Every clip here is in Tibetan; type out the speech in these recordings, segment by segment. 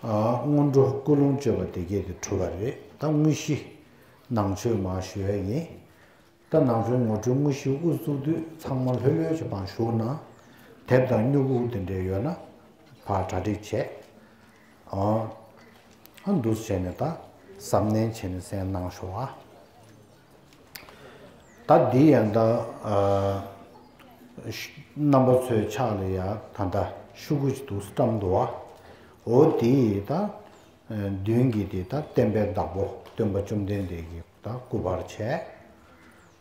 སྔོན་འགྲོ་ཀུན་སློང་བཅོས་པ་དེ་བརྒྱད་དེ་གྲུབ་པ་རེད་ད་དངོས་གཞི། ནང་ཆོས་མ་ཞུ་ཡ་ཡིན། ད་ནང་ཆོས་ངོ་སྤྲོད་དངོས་གཞི་དབུ་བཙུགས་དུས་ཚང་མ་ལྷོད་ལྷོད་ཀྱི་བང་ཞུགས་ན། དེབ་དང་སྨྱུ་གུ་དེ་འདྲས་ཡོད་ན། ཕར་གྲ་སྒྲིག་བྱས། འདུག་བྱས་ནས་ད་གཟབ་ནན་བྱས་ནས་གསན་གནང་ཞོག་ཨ། ད་འདི་ཡང་འདྲ། རྣམ་པ་ཚོའི་ཕྱག་ལས་ཡང་ད་འདྲ་ཤུ་གུ་ཅི་འདུག་ས་ཀྲམ་འདུག་བ། འོ་དེ་ཡིས་ད། མདུན་གྱི་དེ་ད་བསྟན་པའི་བདག་པོ་སྟོན་པ་བཅོམ་ལྡན་འདས་ཀྱིས་ད་སྐུ་པར་བྱས།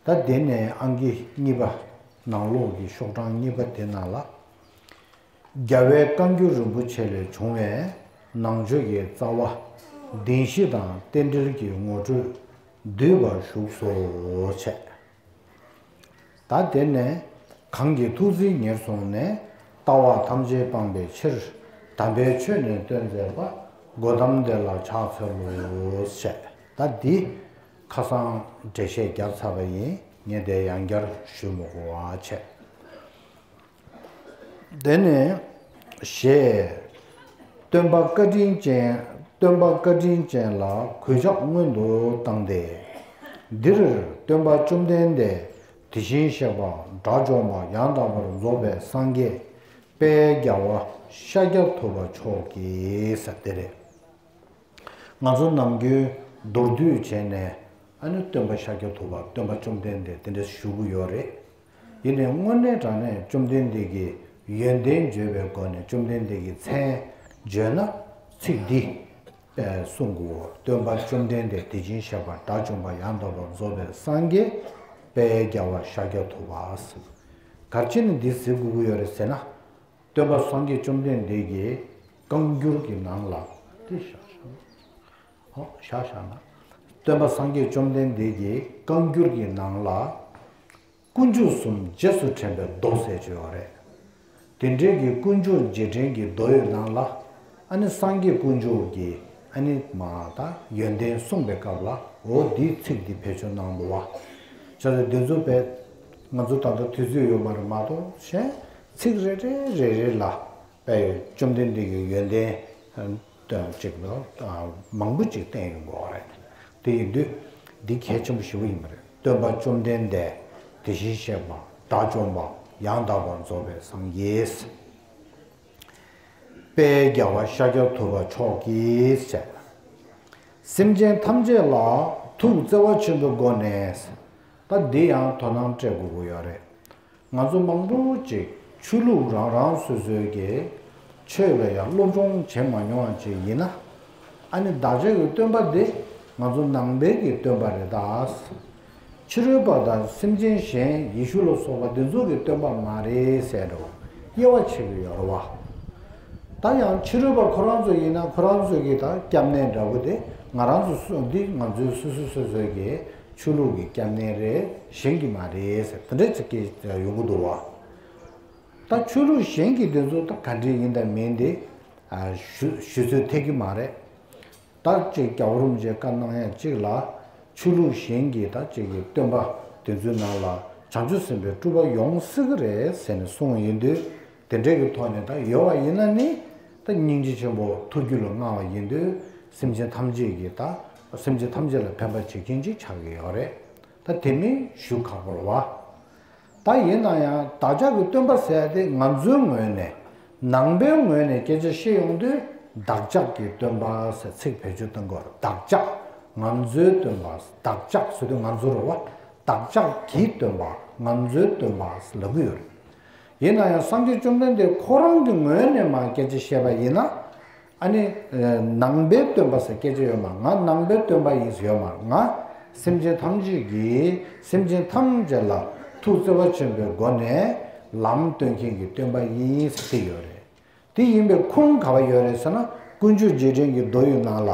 ད་དེ་ནས་ཨང་ཀི་གཉིས་པ། ནང་ལོགས་ཀྱི་ཤོག་གྲངས་གཉིས་པ་དེ་ནང་ལ། རྒྱལ་བའི་བཀའ་འགྱུར་རིན་པོ་ཆེ་ལས་བྱུང་བའི་ནང་ཆོས་ཀྱི་རྩ་བ། བདེན་བཞི་དང་རྟེན་འབྲེལ་གྱི་ངོ་སྤྲོད། འདུས་པར་བཞུགས་སོ། བྱས། ད་དེ་ནས་གང་གི་ཐུགས་རྫིས་ཉེར་བཟུང་ནས་ལྟ་བ་ཐམས་ཅད་སྤངས་པའི་ཕྱིར་དམ་པའི་ཆོས་ནི་སྟོན་མཛད་པ་སྒོ་དམ་བདེ་ལ་ཕྱག་འཚལ་ལོ། བྱས། ད་འདི་ཁ་སང་འགྲེལ་བཤད་བརྒྱབ་ཚར་བ་ཡིན་ངེས་དེ་ཡང་བསྐྱར་ཞུས་མོ་གོ། བྱས། དེ་ནས་ཞེས་སྟོན་པ་བཀའ་དྲིན་ཅན་སྟོན་པ་བཀའ་དྲིན་ཅན་ལ་གུས་ཕྱག་སྔོན་དུ་བཏང་སྟེ། འདིར་སྟོན་པ་བཅོམ་ལྡན་འདས་དེ་བཞིན་གཤེགས་པ་དགྲ་བཅོམ་པ་ཡང་དག་པར་རྫོགས་པའི་སངས་རྒྱས་དཔལ་རྒྱ་བ་ཤཱཀྱ་ཐུབ་པ་མཆོག་གིས་དེ་རེད། ང་ཚོ་ནམ་རྒྱུན་མདོར་བསྡུས་བྱས་ནས་ཨ་ནུ་སྟོན་པ་ཤཱཀྱ་ཐུབ་པ་སྟོན་པ་བཅོམ་ལྡན་འདས་དེ་འདྲ་ཞུ་གི་ཡོད་རེད། དེ་ནས་སྔོན་གནས་དྲངས་ནས་བཅོམ་ལྡན་འདས་ཀྱི་ཡོན་ཏན་བརྗོད་པའི་སྒོ་ནས་བཅོམ་ལྡན་འདས་ཀྱི་མཚན་བརྗོད་ན། ཚིག་འདི་པའི་གསུང་དགུའོ། སྟོན་པ་བཅོམ་ལྡན་འདས་དེ་བྱིན་ཞེས་པ་དགྲ་བཅོམ་པ་ཡང་དག་པར་རྫོགས་པའི་སངས་རྒྱས་པའི་རྒྱལ་བ་ཤཱཀྱ་ཐུབ་པ། གར་བྱེད་ནི་འདིའི་ཟེ་གུ་གུ་ཡོད་རེད་ཟེར་ན། སྟོན་པ་སངས་རྒྱས་བཅོམ་ལྡན་འདས་ཀྱི་བཀའ་འགྱུར་གྱི་ནང་ལ། བཞག་བཞག་ན། སྟོན་པ་སངས་རྒྱས་བཅོམ་ལྡན་འདས་ཀྱི་བཀའ་འགྱུར་གྱི་ནང་ལ། དཀོན་མཆོག་གསུམ་རྗེས་སུ་དྲན་པའི་མདོ་གསལ་བརྗོད་བ་རེད། དེ་འབྲེལ་གྱི་དཀོན་མཆོག་རྗེས་དྲན་གྱི་མདོ་ཡོད་ནང་ལ། ཨ་ནི་སངས་རྒྱས་དཀོན་མཆོག་གི་ཨ་ནི་མ་ད་ཡོན་ཏན་གསུངས་པའི་སྐབས་ལ་འོ་འདི་ཚིག་འདི་བེད་སྤྱོད་གནང་འདུག་བ། བྱ་རེ་འདི་ཚོ་བེད། ང་ཚོ་ད་ལྟ་དུས་ཚོད་ཡོད་མ་རེད་མ་གཏོགས་གཞན་ཚིག་རེ་རེ་རེ་རེ་ལ་པས་བཅོམ་ལྡན་འདས་ཀྱི་ཡོན་ཏན་དོན་ལ་གཅིག་ལ་མང་པོ་ཅིག་བསྟན་ཡོང་དགོས་བ་རེད། དེ་ཡིན་དུས་འདི་གལ་ཆེན་པོ་ཞེ་བོ་ཡིན་པ་རེད། སྟོན་པ་བཅོམ་ལྡན་འདས་དེ་བཞིན་གཤེགས་པ་དགྲ་བཅོམ་པ་ཡང་དག་པར་རྫོགས་པའི་སངས་རྒྱས། དཔལ་རྒྱལ་བ་ཤཱཀྱ་ཐུབ་པ་མཆོག་གིས་བྱས་པ། སེམས་ཅན་ཐམས་ཅད་ལ་ཐུགས་བརྩེ་བ་ཆེན་པོའི་སྒོ་ནས་ད་འདི་ཡང་དོ་སྣང་སྤྲད་དགོས་ཀྱི་ཡོད་རེད། ང་ཚོ་མང་པོ་ཅིག་ཆོས་ལུགས་རང་རང་སོ་སོའི་གི་ཆོས་ལ་ཡང་སློབ་སྦྱོང་བྱེད་མ་མྱོང་བ་ཅིག་ཡིན་ན། ཨ་ནི་བདག་ཅག་གི་སྟོན་པ་འདི་ང་ཚོ་ནང་པའི་གི་སྟོན་པ་རེད་ད། ཕྱི་རོལ་པ་དང་སེམས་ཅན་གཞན་ཡེ་ཤུ་ལ་སོགས་པ་འདི་ཚོ་གི་སྟོན་པ་མ་རེད་ཟེར་རོ་དབྱེ་བ་ཕྱེ་གི་ཡོད་རོ་བ། ད་ཡང་ཕྱི་རོལ་པ་ཁོ་རང་ཚོ་ཡིན་ན་ཁོ་རང་ཚོ་གི་ད་སྐྱབས་གནས་འདྲ་པོ་དེ་ང་རང་ཚོ་སོ་འདི་ང་ཚོའི་སོ་སོ་སོ་སོའི་གི་ཆོས་ལུགས་ཀྱི་སྐྱབས་གནས་རེད་གཞན་གྱི་མ་རེད་ཟེར་དེ་འདྲའི་ཚིག་སྐད་ཡོང་གི་འདུག་བ། ད་ཆོས་ལུགས་གཞན་གྱི་དེ་ཚོ་ད་ག་འདྲས་ཡིན་དང་མིན་དེ་ཞུ་ཚོད་ཐེག་གི་མ་རེད། ད་ཅིག་རྒྱ་གོ་རུམ་ཅེས་བཀའ་གནང་ཡ་ཅིག་ལ་ཆོས་ལུགས་གཞན་གྱི་ད་ཅིག་གི་སྟོན་པ་དེ་ཚོའི་ནང་ལ་བྱང་ཆུབ་སེམས་པའི་སྤྲུལ་པ་ཡོང་སྲིད་གི་རེད་ཟེར་ནས་གསུང་ཡིན་དུས་དེ་འདྲའི་གི་ཐོག་ནས་ད་ཡོད་བ་ཡིན་ན་ནི་ད་སྙིང་རྗེ་ཆེན་པོ་ཐུགས་རྒྱུད་ལ་མངའ་བ་ཡིན་དུས་སེམས་ཅན་ཐམས་ཅད་ཀྱི་ད་སེམས་ཅན་ཐམས་ཅད་ལ་ཕན་པ་བྱེད་མཁན་ཅིག་ཆགས་ཀྱི་ཡོད་རེད་ད་དེ་མིན་ཞུ་ཁག་པོར་བ་ད་ཡིན་ན་ཡང་བདག་ཅག་གི་སྟོན་པ་ཟས་དེ་ང་ཚོའི་ངོས་ནས་ནང་པའི་ངོས་ནས་སྐད་ཆ་བཤད་ཡོང་དུས་བདག་ཅག་གི་སྟོན་པ་ཟས་ཚིག་བེད་སྤྱོད་གཏོང་སྐོར་བདག་ཅག་ང་ཚོའི་སྟོན་པ་བདག་ཅག་ཟེར་དུས་ང་ཚོར་བ་བདག་ཅག་གི་སྟོན་པ་ང་ཚོའི་སྟོན་པ་ལབ་ཀྱི་ཡོད་རེད། ཡིན་ན་ཡང་སངས་རྒྱས་བཅོམ་ལྡན་འདས་ཁོ་རང་གི་ངོས་ནས་མ་སྐད་ཆ་བཤད་པ་ཡིན་ན། ཨ་ནི། ནང་པའི་སྟོན་པ་ཟེར་སྐད་ཆ་ཡོད་མ་ང་ནང་པའི་སྟོན་པ་ཡིན་ཟེར་ཡོད་མ་ང། སེམས་ཅན་ཐམས་ཅད་ཀྱིས་སེམས་ཅན་ཐམས་ཅད་ལ་ཐུགས་བརྩེ་བ་ཆེན་པོའི་སྒོ་ནས་ལམ་སྟོན་མཁན་གྱི་སྟོན་པ་ཡིན་ཟེར་ཡོད་རེད། དེ་ཡིན་པའི་ཁུངས་ག་བ་ཡོད་རེད་ཟེར་ན་ཀུན་སྤྱོད་རྗེས་དྲན་གྱི་རྡོ་ཡི་ནང་ལ།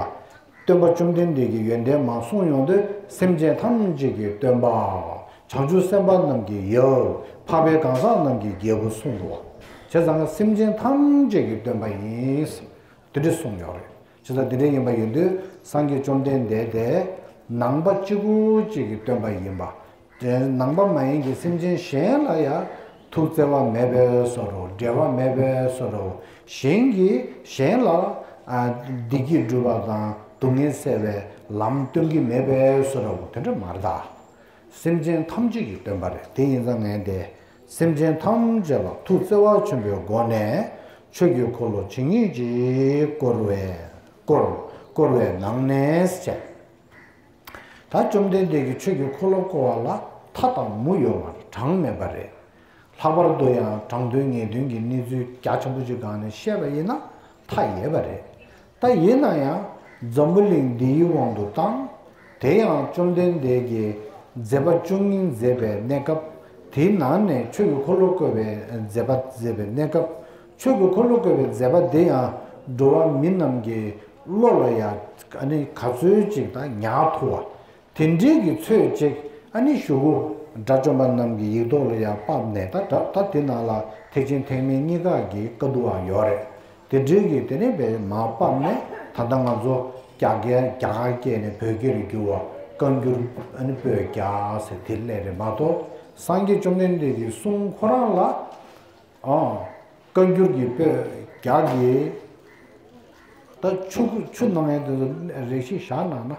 སྟོན་པ་བཅོམ་ལྡན་འདས་ཀྱི་ཡོན་ཏན་མ་གསུངས་ཡོང་དུས་སེམས་ཅན་ཐམས་ཅད་ཀྱི་སྟོན་པ། བྱང་ཆུབ་སེམས་དཔའ་རྣམས་ཀྱི་ཡབ། འཕགས་པའི་གང་ཟག་རྣམས་ཀྱི་རྒྱལ་པོ་གསུངས་འདུག་བ། བྱས་ཙང་སེམས་ཅན་ཐམས་ཅད་ཀྱི་སྟོན་པ་ཡིན། དེ་འདྲི་གསུངས་ཡོད་རེད། ཇི་ལྟར་འདི་འདྲའི་ཡིན་པ་ཡིན་དུས་སངས་རྒྱས་བཅོམ་ལྡན་འདས་དེ་ནང་པ་གཅིག་པུ་གཅིག་གིས་སྟོན་པ་ཡིན་པ་དེ་ནང་པ་མ་ཡིན་གྱི་སེམས་ཅན་གཞན་ལ་ཡང་ཐུགས་བརྩེ་བ་མེད་པས་སོ་རུ་འབྲལ་བ་མེད་པས་སོ་རུ་གཞན་གྱིས་གཞན་ལ་བདེ་སྐྱིད་སྒྲུབ་པ་དང་སྡུག་བསྔལ་སེལ་བའི་ལམ་སྟོན་གྱི་མེད་པས་སོ་རུ་དེ་འདྲ་མ་གདའ། སེམས་ཅན་ཐམས་ཅད་ཀྱི་སྟོན་པ་རེད་དེ་ཡིན་ཙང་ངས་དེ་སེམས་ཅན་ཐམས་ཅད་ལ་ཐུགས་བརྩེ་བ་ཆེན་པོའི་སྒོ་ནས་ཆོས་ཀྱི་འཁོར་ལོ་ཇི་སྙེད་ཅིག་བསྐོར་བས་བསྐོར་བསྐོར་བའི་ནང་ནས་བྱས། ད་བཅོམ་ལྡན་འདས་ཀྱི་ཆོས་ཀྱི་འཁོར་ལོ་བསྐོར་བ་ལ་མཐའ་དང་མུ་ཡོ་བར་གྲངས་མེད་པ་རེད། ལྷག་པར་དུ་ཡང་དྲང་དོན་ངེས་དོན་གྱི་གནས་ཚུལ་རྒྱ་ཆེན་པོ་ཅིག་སྒང་ནས་བཤད་པ་ཡིན་ན་མཐའ་ཡས་པ་རེད། ད་ཡིན་ན་ཡང་འཛམ་བུ་གླིང་འདིའི་དབང་དུ་བཏང། དེ་ཡང་བཅོམ་ལྡན་འདས་ཀྱིས་མཛད་པ་བཅུ་གཉིས་མཛད་པའི་གནས་སྐབས་དེའི་ནང་ནས་ཆོས་ཀྱི་འཁོར་ལོ་བཀོད་པའི་མཛད་པ་མཛད་པའི་གནས་སྐབས་ཆོས་ཀྱི་འཁོར་ལོ་བཀོད་པའི་མཛད་པ་འདི་ཡང་འགྲོ་བ་མི་རྣམས་ཀྱི་བློ་ལ་ཡང་ག་ཚོད་ཅིག་དང་ཉག་ཐུ་བ། དེ་འབྲེལ་གྱི་ཚོད་ཅིག་ཨ་ནེ་ཞུ་གུ་དགྲ་བཅོམ་པ་རྣམས་ཀྱི་ཡིག་ཐོག་ལ་ཡང་ཕབ་ནས་ད་དྲབ་ད་དེ་ནང་ལ་ཐེག་ཆེན་ཐེག་དམན་གཉིས་ཀ་གི་བཀའ་བསྡུའང་ཡོད་རེད་དེ་འབྲེལ་གྱི་དེ་ནས་བས་མ་ཕབ་ནས་ད་ལྟ་ང་ཚོ་རྒྱ་རྒྱ་གར་སྐྱེས་ནས་བོད་སྐད་རེ་བསྒྱུར་བ་བཀའ་འགྱུར་ཨ་ནེ་པོད་བརྒྱ་ཟེར་དེ་སླད་རེད་མ་གཏོགས་སངས་རྒྱས་བཅོམ་ལྡན་འདས་ཀྱི་གསུང་ཁོ་རང་ལ་བཀའ་འགྱུར་གྱི་པོད་བརྒྱ་གྱིས་ད་ཆུ་ཆུ་ནང་ཡང་དེ་ཚོ་རེ་ཞིག་བཞག་གནང་ན་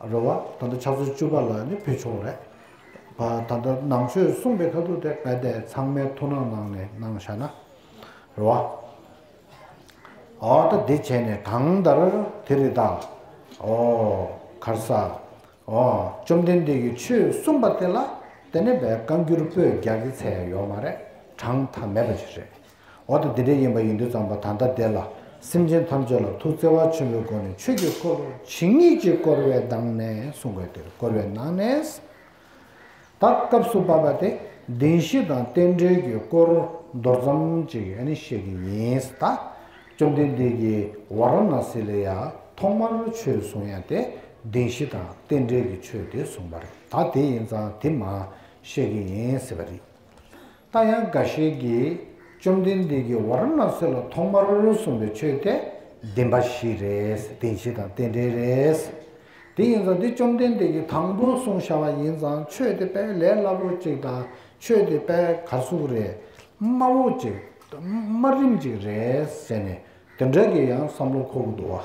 རེད་བ། ད་ལྟ་ཆབ་སྲིད་བཅུ་པ་ལ་ནི་ཕུལ་ཆོག་རེད་བ། ད་ལྟ་ནང་ཆོས་གསུངས་པའི་ཁ་ཐུག་དེ་ག་དེ་ཚང་མའི་ཐུགས་སྣང་ནང་ནས་གནང་བཞག་ན་རེད་བ། ཨོ་ད་འདི་བྱས་ནས་གང་ལྟར་དེ་རི་དྭགས། ཨོ། གར་ས། ཨོ། བཅོམ་ལྡན་འདས་ཀྱི་ཆོས་གསུངས་པ་དེ་ལ་དེ་ནས་བས་བཀའ་འགྱུར་པོད་བརྒྱ་གི་ཚད་ཡོད་མ་རེད་གྲངས་མཐའ་མེད་པ་ཞིག་རེད། འོག་ཏུ་འདི་འདྲའི་ཡིན་པ་ཡིན་དུས་ཙམ་པོ་ད་ལྟ་བདེ་ལ། སེམས་ཅན་ཐམས་ཅད་ལ་ཐུགས་བརྩེ་བ་ཆེན་པོའི་སྒོ་ནས་ཆོས་ཀྱི་སྐོར་ཇི་སྙེད་ཅིག་བསྐོར་བའི་གདངས་ནས་གསུང་དགོས་འདིར་བསྐོར་བའི་ནང་ནས། ད་སྐབས་སུ་བབ་པ་སྟེ་བདེན་བཞི་དང་རྟེན་འབྲེལ་གྱི་སྐོར་མདོར་ཙམ་ཅིག་བཤད་ཀྱི་ཡིན། ད་བཅོམ་ལྡན་འདས་ཀྱིས་ཝཱ་ར་ན་སི་ལ་ཡ་ཐོག་མར་ཆོས་གསུང་ཡ་སྟེ་བདེན་བཞི་དང་རྟེན་འབྲེལ་གྱི་ཆོས་དེ་གསུངས་པར་ད་དེ་ཡིན་ཙང་དེ་མ་བཤད་ཀྱི་ཡིན་ཟེར་བ་རེད། ད་ཡང་འགའ་ཤས་ཀྱིས་བཅོམ་ལྡན་འདས་ཀྱིས་བ་ར་ན་སེ་ལ་ཐོག་མར་གསུངས་པའི་ཆོས་དེ་བདེན་པ་ཞིག་རེད་བདེན་བྱེད་དང་རྟེན་འབྲེལ་རེད། དེ་ཡིན་ཙང་འདི་བཅོམ་ལྡན་འདས་ཀྱིས་དང་པོར་གསུངས་བྱ་བ་ཡིན་ཙང་ཆོས་དེ་དཔེ་ལས་སླ་པོ་ཅིག་དང་ཆོས་དེ་དཔེ་གར་གཟུགས་རེད་དམའ་བོ་ཅིག་དམའ་རིམ་ཅིག་རེད་ཟེར་ནས་དེ་འདྲ་གི་ཡང་བསམ་བློ་འཁོར་གི་འདུག་བ།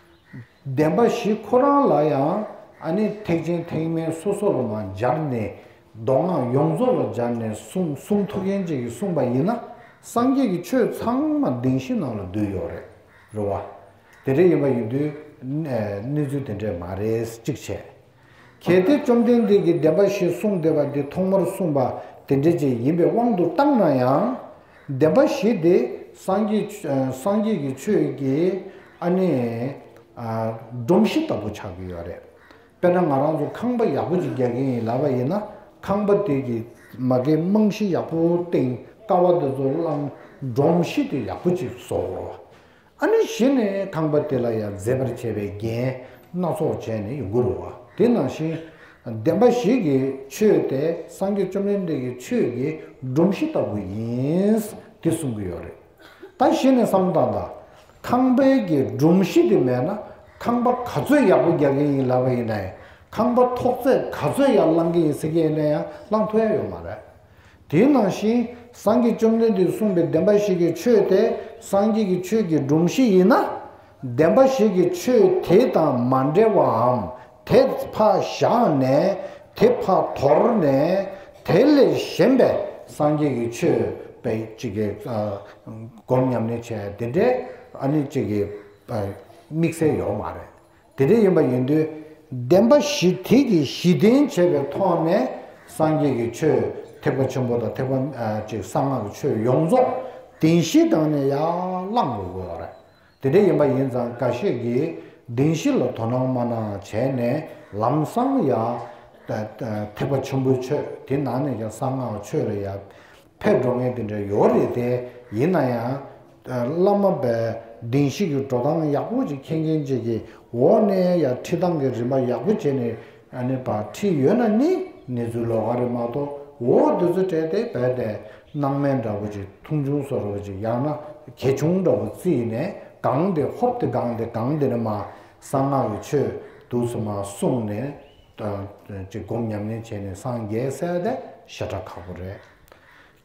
བདེན་པ་བཞི་ཁོ་རང་ལ་ཡང་ཨ་ནི་ཐེག་ཆེན་ཐེག་དམན་སོ་སོར་མ་སྦྱར་ནས་མདོ་སྔགས་ཡོངས་རྫོགས་ལ་སྦྱར་ནས་གསུངས་ཐུགས་མཁྱེན་བཅས་ཀྱིས་གསུངས་པ་ཡིན་ན་སངས་རྒྱས་ཀྱི་ཆོས་ཚང་མ་བདེན་བཞི་ནང་ལ་འདུས་ཡོད་རེད་རེད་བ། དེ་འདྲ་ཡིན་པ་ཡིན་དུས་གནས་ཚུལ་དེ་འདྲས་མ་རེད་གཅིག་བྱས། གལ་ཏེ་བཅོམ་ལྡན་འདས་ཀྱིས་བདེན་པ་ཞེས་གསུངས་བདེ་བ་འདི་ཐོག་མར་གསུངས་པ་དེ་འགྲེལ་བྱེད་ཡིན་པའི་དབང་དུ་བཏང་ན་ཡང། བདེན་པ་ཞེས་དེ་སངས་རྒྱས་ཀྱི་ཆོས་ཀྱི་ཨ་ནི་སྒྲོམ་གཞི་ལྟ་བུ་ཆགས་ཀྱི་ཡོད་རེད། དཔེར་ན་ང་རང་ཚོ་ཁང་པ་ཡག་པོ་ཅིག་རྒྱག་གིན་ཡིན་ལབ་པ་ཡིན་ན་ཁང་པ་དེ་གི་མ་གའི་རྨང་གཞི་ཡག་པོ་བཏིང་ཀ་བ་དེ་ཚོ་བསླངས་སྒྲོམ་གཞི་དེ་ཡག་པོ་ཅིག་བཟོ་དགོས། ཨ་ནི་བཞི་ནི་ཁང་པ་དེ་ལ་ཡང་མཛེས་པར་བྱས་པའི་རྒྱན་སྣ་ཚོགས་བྱས་ནས་ཡོངས་བཀུར་བ་དེ་ནང་བཞིན། བདེན་པ་ཞིག་གིས་ཆོས་དེ་སངས་རྒྱས་བཅོམ་ལྡན་འདས་ཀྱི་ཆོས་ཀྱི་སྒྲོམ་གཞི་ལྟ་བུ་ཡིན། དེ་གསུང་གི་ཡོད་རེད། ད་གཞི་ནས་བསམ་བློ་བཏང་ད། ཁང་པའི་གྱི་སྒྲོམ་གཞི་དེ་མེད་ན་ཁང་པ་ག་ཚོད་ཡག་པོ་རྒྱག་གིན་ཡིན་ལབ་པ་ཡིན་ན་ཡང་ཁང་པ་ཐོག་བརྩེགས་ག་ཚོད་ཡར་བསླང་གིན་ཡིན་ཟེར་གྱི་ཡིན་ན་ཡང་བསླང་ཐུབ་ཡ་ཡོད་མ་རེད། དེ་ནང་བཞིན་སངས་རྒྱས་བཅོམ་ལྡན་འདས་གསུངས་པའི་བདེན་པ་ཞིག་གི་ཆོས་དེ་སངས་རྒྱས་ཀྱི་ཆོས་ཀྱི་སྒྲོམ་གཞི་ཡིན་ན། བདེན་པ་ཞིག་གི་ཆོས་དེ་དང་མ་འབྲེལ་བའམ་དེ་ཕ་བཞག་ནས་དེ་ཕ་དོར་ནས་དེ་ལས་གཞན་པའི་སངས་རྒྱས་ཀྱི་ཆོས་པའི་ཅིག་གི་སྒོམ་ཉམས་ལེན་བྱས་དེ་འདྲའི་ཨ་ནི་ཅིག་གི་དམིགས་བསལ་ཡོག་མ་རེད་དེ་འདྲ་ཡིན་པ་ཡིན་དུས་བདེན་པ་བཞི་ཐིག་གིས་གཞི་བདེན་བྱས་པའི་ཐོག་ནས་སངས་རྒྱས་ཀྱི་ཆོས་ཐེག་པ་ཆེན་པོ་དང་ཐེག་པ་གཅིག་གསང་སྔགས་ཀྱི་ཆོས་ཡོངས་རྫོགས་བདེན་བཞིའི་སྟེང་ནས་ཡར་བླངས་དགོས་དགོས་བ་རེད། དེ་འདྲ་ཡིན་པ་ཡིན་ཙང་འགའ་ཤས་ཀྱིས་བདེན་བཞི་ལ་དོ་སྣང་མ་གནང་བྱས་ནས་ལམ་སང་ཡར་ཐེག་པ་ཆེན་པོའི་ཆོས་དེ་ནང་ནས་ཀྱང་གསང་སྔགས་ཆོས་ལ་ཡར་ཕས་འགྲོ་ངན་དེ་འདྲ་ཡོད་རེད་དེ། ཡིན་ན་ཡང། བླ་མ་པའི་གདིང་གཤིས་ཀྱི་འགྲོ་སྟངས་ཡག་པོ་ཅིག་མཁྱེན་མཁན་བཅས་ཀྱི་འོག་ནས་ཡང་ཁྲིད་སྟངས་ཀྱི་རིམ་པ་ཡག་པོ་བྱས་ནས་ནས་པར་ཁྲིད་ཡོད་ན་ནི་གནས་ཚུལ་ལོག་ག་རེ་མ་གཏོགས་འོ་འདི་ཚོ་སྤྲད་དེ་བས་ཏེ་སྣང་མེད་འདྲ་པོ་ཅིག་མཐོང་ཆུང་བཟོ་རོགས་ཅིག་ཡང་ན་གལ་ཆུང་འདྲ་པོ་བརྩིས་ནས་གང་འདི་ཧོབ་འདི་གང་འདི་གང་འདི་ནི་མ་གསང་སྔགས་ཀྱི་ཆོས་དུག་ཚོ་མ་གསུངས་ནས་དང། ཅིག་སྒོམ་ཉམས་ལེན་བྱས་ནས་སངས་རྒྱས་གསལ་བ་དེ་བཤད་གྲྭ་ཁག་པོ་རེད།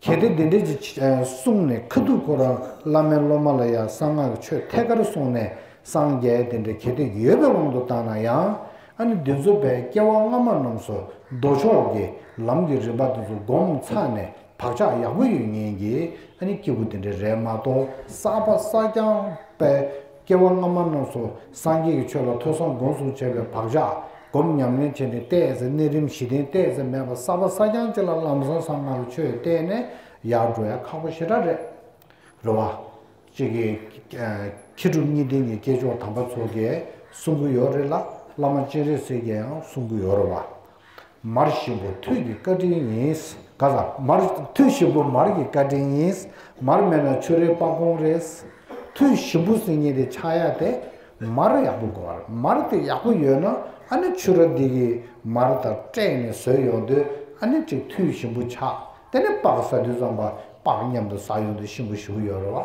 གལ་ཏེ་དེ་འདྲའི་ཅིག་གསུངས་ནས་ཁ་ཐུག་ཁོ་རང་བླ་མའི་སློབ་མ་ལ་ཡང་གསང་སྔགས་ཆོས་ཐད་ཀར་གསུངས་ནས་སངས་རྒྱས་དེ་འདྲ་གལ་ཏེ་ཡོད་པའི་དབང་དུ་བཏང་ན་ཡང། ཨ་ནི་འདི་ཚོ་བས་སྐྱེ་བ་སྔ་མ་རྣམས་སུ་མདོ་ཕྱོགས་ཀྱི་ལམ་གྱི་རིམ་པ་དེ་ཚོ་སྒོམ་ཚར་ནས་བག་ཆགས་ཡག་པོ་ཡོད་ཉེན་གྱིས་ཨ་ནི་སྐྱེ་བོ་དེ་འདྲ་རེད་མ་གཏོགས་གསར་པ་གསར་རྐྱང་པས་སྐྱེ་བ་སྔ་མ་རྣམས་སུ་སངས་རྒྱས་ཀྱི་ཆོས་ལ་ཐོས་བསམ་སྒོམ་གསུམ་བྱས་པའི་བག་ཆགས་སྒོམ་ཉམས་ལེན་བྱས་ནས་བལྟས་ཚེ་གནས་རིམ་བཞི་ལྡན་བལྟས་ཚེ་མེད་པ་གསར་པ་གསར་རྐྱང་གཅིག་ལ་ལམ་བཟང་ས་ལྔ་རུ་ཆོས་བལྟས་ནས་ཡར་འགྲོ་ཡ་ཁག་པོ་ཞེ་དྲག་རེད། རེ་བ། ཅིག་གིས། མཁས་གྲུབ་གཉིས་ལྡན་གྱི་སྐྱེས་མཆོག་དམ་པ་ཚོགས་རྒྱལ་གསུང་གི་ཡོད་རེད་ལ་བླ་མ་སྤྱན་རས་གཟིགས་རྒྱལ་ཡང་གསུང་གི་ཡོད་རེད་བ། མར་གཤིན་པོ་ཐུད་ཀྱི་བཀའ་དྲིན་ཡིན། ག་ལ། མར་ཐུད་གཤིན་པོ་མར་གྱི་བཀའ་དྲིན་ཡིན། མར་མེད་ན་ཆུ་རེད་སྤག་གོང་རེད། ཐུད་གཤིན་པོ་སྲིན་གཉིས་དེ་ཆགས་ཡག་དེ། མར་ཡག་པོ་དགོས། མར་དེ་ཡག་པོ་ཡོད་ན་ཨ་ནི་ཆུ་ར་འདི་ཡིས་མར་དང་སྤྲད་ནས་ཟོས་ཡོང་དུས་ཨ་ནི་ཅིག་ཐུད་གཤིན་པོ་ཆགས་དེ་ནས་སྤག་ཟ་དུས་ཙམ་པ་སྤག་མཉམ་དུ་ཟ་ཡོང་དུས་གཤིན་པོ་ཞུགས་ཡོད་རེད་བ།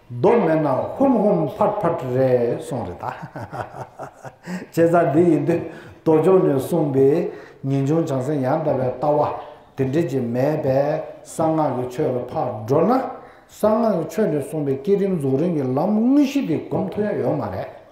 མདོ་མེད་ན་ཧུམ་ཧུམ་ཕར་ཕར་རེད་སོང་རེད་ད། བྱས་ཙང་འདི་ཡིན་དུས་མདོ་ལྗོངས་ནས་གསུངས་པའི་ངེས་འབྱུང་བྱང་སེམས་ཡང་དག་པའི་ལྟ་བ་དེ་འབྲེལ་གྱི་མེད་པས་གསང་སྔགས་ཀྱི་ཆོས་ལ་ཕར་འགྲོ་ན་གསང་སྔགས་ཀྱི་ཆོས་ནས་གསུངས་པའི་བསྐྱེད་རིམ་རྫོགས་རིམ་གྱི་ལམ་དངོས་གཞི་དེ་གོམས་མཐོ་ཡ་ཡོད་མ་རེད།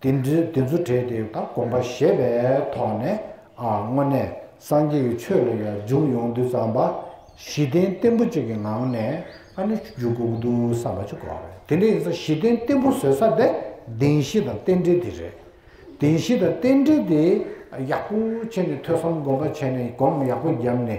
དེ་ཚོ་བྲིས་ཏེ་ད་གོམས་པ་ཞེས་པའི་ཐོག་ནས་དངོས་གནས་སངས་རྒྱས་ཀྱི་ཆོས་ལ་ཡང་འཇུག་ཡོང་དུས་བསམ་པ་གཞི་རྟེན་བརྟན་པོ་གཅིག་གི་ངང་ནས་ཨ་ནི་འཇུག་དགོས་ཀྱི་འདུག་བསམ་པ་ཅིག་གོ། དེ་འདྲ་ཡིན་ས་གཞི་རྟེན་བརྟན་པོ་བཟོས་ས་དེ་བདེན་བཞི་དང་རྟེན་འབྲེལ་དེ་རེད། བདེན་བཞི་དང་རྟེན་འབྲེལ་དེ་ཡག་པོ་བྱས་ནས་ཐོས་བསམ་སྒོམ་པ་བྱས་ནས་སྒོམ་ཡག་པོ་བརྒྱབ་ནས་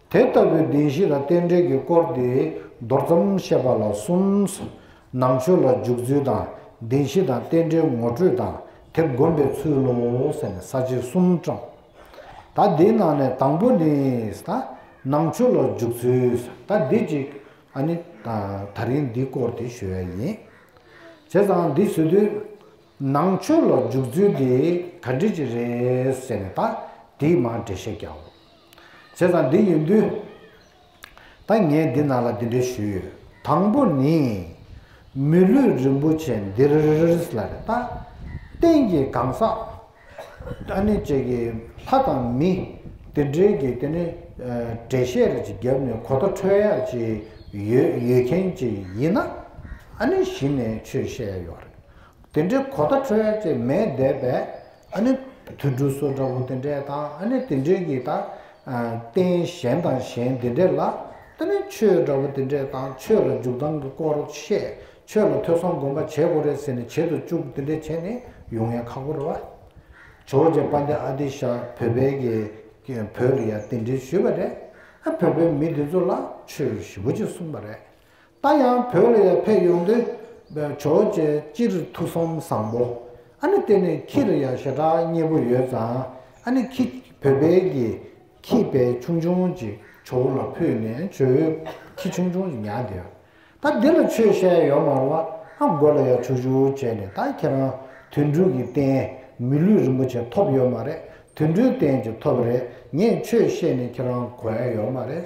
དེ་ལྟ་བུའི་བདེན་བཞི་དང་རྟེན་འབྲེལ་གྱི་སྐོར་དེ་མདོར་ཙམ་བཤད་པ་ལ་གསུམ། ནང་ཆོས་ལ་འཇུག་ཚུལ་དང་བདེན་བཞི་དང་རྟེན་འབྲེལ་ངོ་སྤྲོད་དང་དེ་བསྒོམ་པའི་ཚུལ་ལོ་ཟེར་ནས་ས་བཅད་གསུམ་བཀྲམས། ད་འདིའི་ནང་ནས་དང་པོ་ནི། ད་ནང་ཆོས་ལ་འཇུག་ཚུལ། ད་འདི་གཅིག་ཨ་ནི། ད་རིང་འདིའི་སྐོར་དེ་ཞུ་བ་ཡིན། བྱས་ཙང་འདི་ཞུ་དུས། ནང་ཆོས་ལ་འཇུག་ཚུལ་དེ་ག་འདྲི་ཅི་རེད་ཟེར་ནས་ད་འདིའི་མར་འགྲེལ་བཤད་རྒྱག། བྱས་ཙང་འདི་ཡིན་དུས། ད་ངས་འདི་ནང་ལ་འདི་འདྲའི་ཞུས་ཡོད། དང་པོ་ནི། མི་ལུས་རིན་པོ་ཆེ་འདིར་ལ་རེ་ལྟ། སྟེང་གི་གང་ཟག། ཨ་ནི་བཅས་ཀྱི་ལྷ་དང་མི། དེ་འདྲའི་གི་དེ་ནི། འགྲེལ་བཤད་རེ་ཅིག་བརྒྱབ་ནས་གོ་བརྡ་འཕྲོད་ཡག་ཅིག་ཡོད་ཡོད་མཁན་ཅིག་ཡིན་ན། ཨ་ནི་གཞི་ནས་ཆོས་བཤད་ཡག་ཡོད་རེད། དེ་འདྲའི་གོ་བརྡ་འཕྲོད་ཡག་ཅིག་མེད་བསྡད་པས། ཨ་ནི། དུད་འགྲོ་སོགས་འདྲ་བོ་དེ་འདྲས་དང་ཨ་ནི་དེ་འདྲས་ཀྱིས་དང། རྟེན་གཞན་དང་གཞན་དེ་འདྲས་ལ། ཏི་ནི་ཆོས་འདྲ་བོ་དེ་འདྲས་དང་ཆོས་ལ་འཇུག་ལྡང་གི་སྐོར་བཤད། ཆོས་ལ་ཐོས་བསམ་སྒོམ་པ་བྱེད་དགོས་རེད་ཟེར་ནས་བྱེད་དུ་བཅུག་དེ་འདྲས་བྱས་ནས་ཡུག་ངན་ཁག་པོ་རེད་བ། ཇོ་རྗེ་དཔའ་འདི་ཨ་ཏི་ཤ་བོད་པའི་གི་བོད་ལ་ཡང་དེ་འདྲས་ཞུས་པ་རེད། ཨ་བོད་པའི་མི་དེ་ཚོ་ལ་ཆོས་ཞིབ་པོ་ཅིག་གསུངས་པ་རེད། ད་ཡང་བོད་ལ་ཡར་ཕེབས་ཡོང་དུས། བྱོལ་བྱས་སྤྱིར་ཐུགས་བསམ་བཟང་པོ། ཨ་ནི་དེ་ནས་ཁྱིར་ཡར་ཞེ་དྲག་མཉེས་པོ་ཡོད་ཙང་ཨ་ནི་ཁྱི་བོད་དཔལ་གྱིས་ཁྱི་བལ་ཆུང་ཆུང་ཅིག་བྱོལ་བོ་ལ་ཕུལ་ནས་བྱོལ་བོས་ཁྱི་ཆུང་ཆུང་ཅིག་ཉར་གི་ཡོད། ད་འདི་ལ་ཆོས་བཤད་ཡོད་མ་རུང་བ་ཨ་མགོ་ལ་ཡར་ཆུག་ཆུག་བྱས་ནས་ད་ཁྱེད་རང་དུད་འགྲོའི་གི་རྟེན་མི་ལུས་རིན་པོ་ཆེ་ཐོབ་ཡོད་མ་རེད་དུད་འགྲོའི་རྟེན་ཅིག་ཐོབ་རེད་ངས་ཆོས་བཤད་ནས་ཁྱེད་རང་གོ་ཡ་ཡོད་མ་རེད།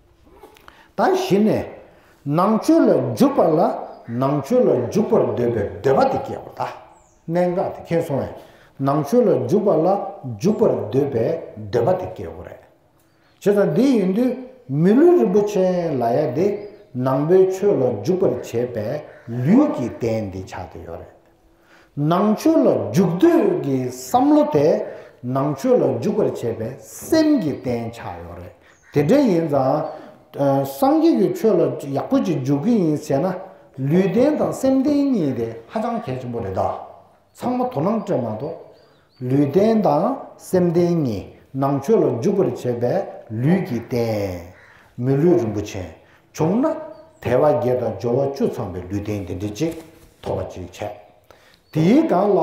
ད་གཞི་ནས་ནང་ཆོས་ལ་འཇུག་པ་ལ་ནང་ཆོས་ལ་འཇུག་པར་འདོད་པའི་འདོད་པ་དེ་སྐྱེས་པ་དང། གནད་འགག་དེ་མཁྱེན་སོང་བས་ནང་ཆོས་ལ་འཇུག་པ་ལ་འཇུག་པར་འདོད་པའི་འདོད་པ་དེ་སྐྱེ་བོ་རེད། བྱས་ཙང་དེ་ཡིན་དུས་མི་ལུས་རིན་པོ་ཆེ་ལ་ཡ་དེ་ནང་པའི་ཆོས་ལ་འཇུག་པར་བྱེད་པའི་ལུས་ཀྱི་རྟེན་འདི་ཆགས་ཏེ་ཡོད་རེད། ནང་ཆོས་ལ་འཇུག་འདོད་ཀྱི་བསམ་བློ་དེ་ནང་ཆོས་ལ་འཇུག་པར་བྱེད་པའི་སེམས་ཀྱི་རྟེན་ཆགས་ཡོད་རེད། དེ་འདྲ་ཡིན་ཙང། སངས་རྒྱས་ཀྱི་ཆོས་ལ་ཡག་པོ་ཅིག་འཇུག་གི་ཡིན་ཟེར་ན། ལུས་རྟེན་དང་སེམས་རྟེན་གཉིས་དེ་ཧ་ཅང་གལ་ཆེན་པོ་རེད་ད། ཚང་མ་དོ་སྣང་སྤྲད་མ་གཏོགས། ལུས་རྟེན་དང་སེམས་རྟེན་གཉིས་ནང་ཆོས་ལ་འཇུག་པར་བྱེད་པའི་ལུས་ཀྱི་རྟེན། མི་ལུས་རིན་པོ་ཆེ་བྱུང་ན་དལ་བ་བརྒྱད་དང་སྦྱོར་བ་བཅུ་ཚང་པའི་ལུས་རྟེན་འདི་འདྲ་ཅིག་ཐོབ་པ་ཅིག་བྱས། དེའི་སྒང་ལ།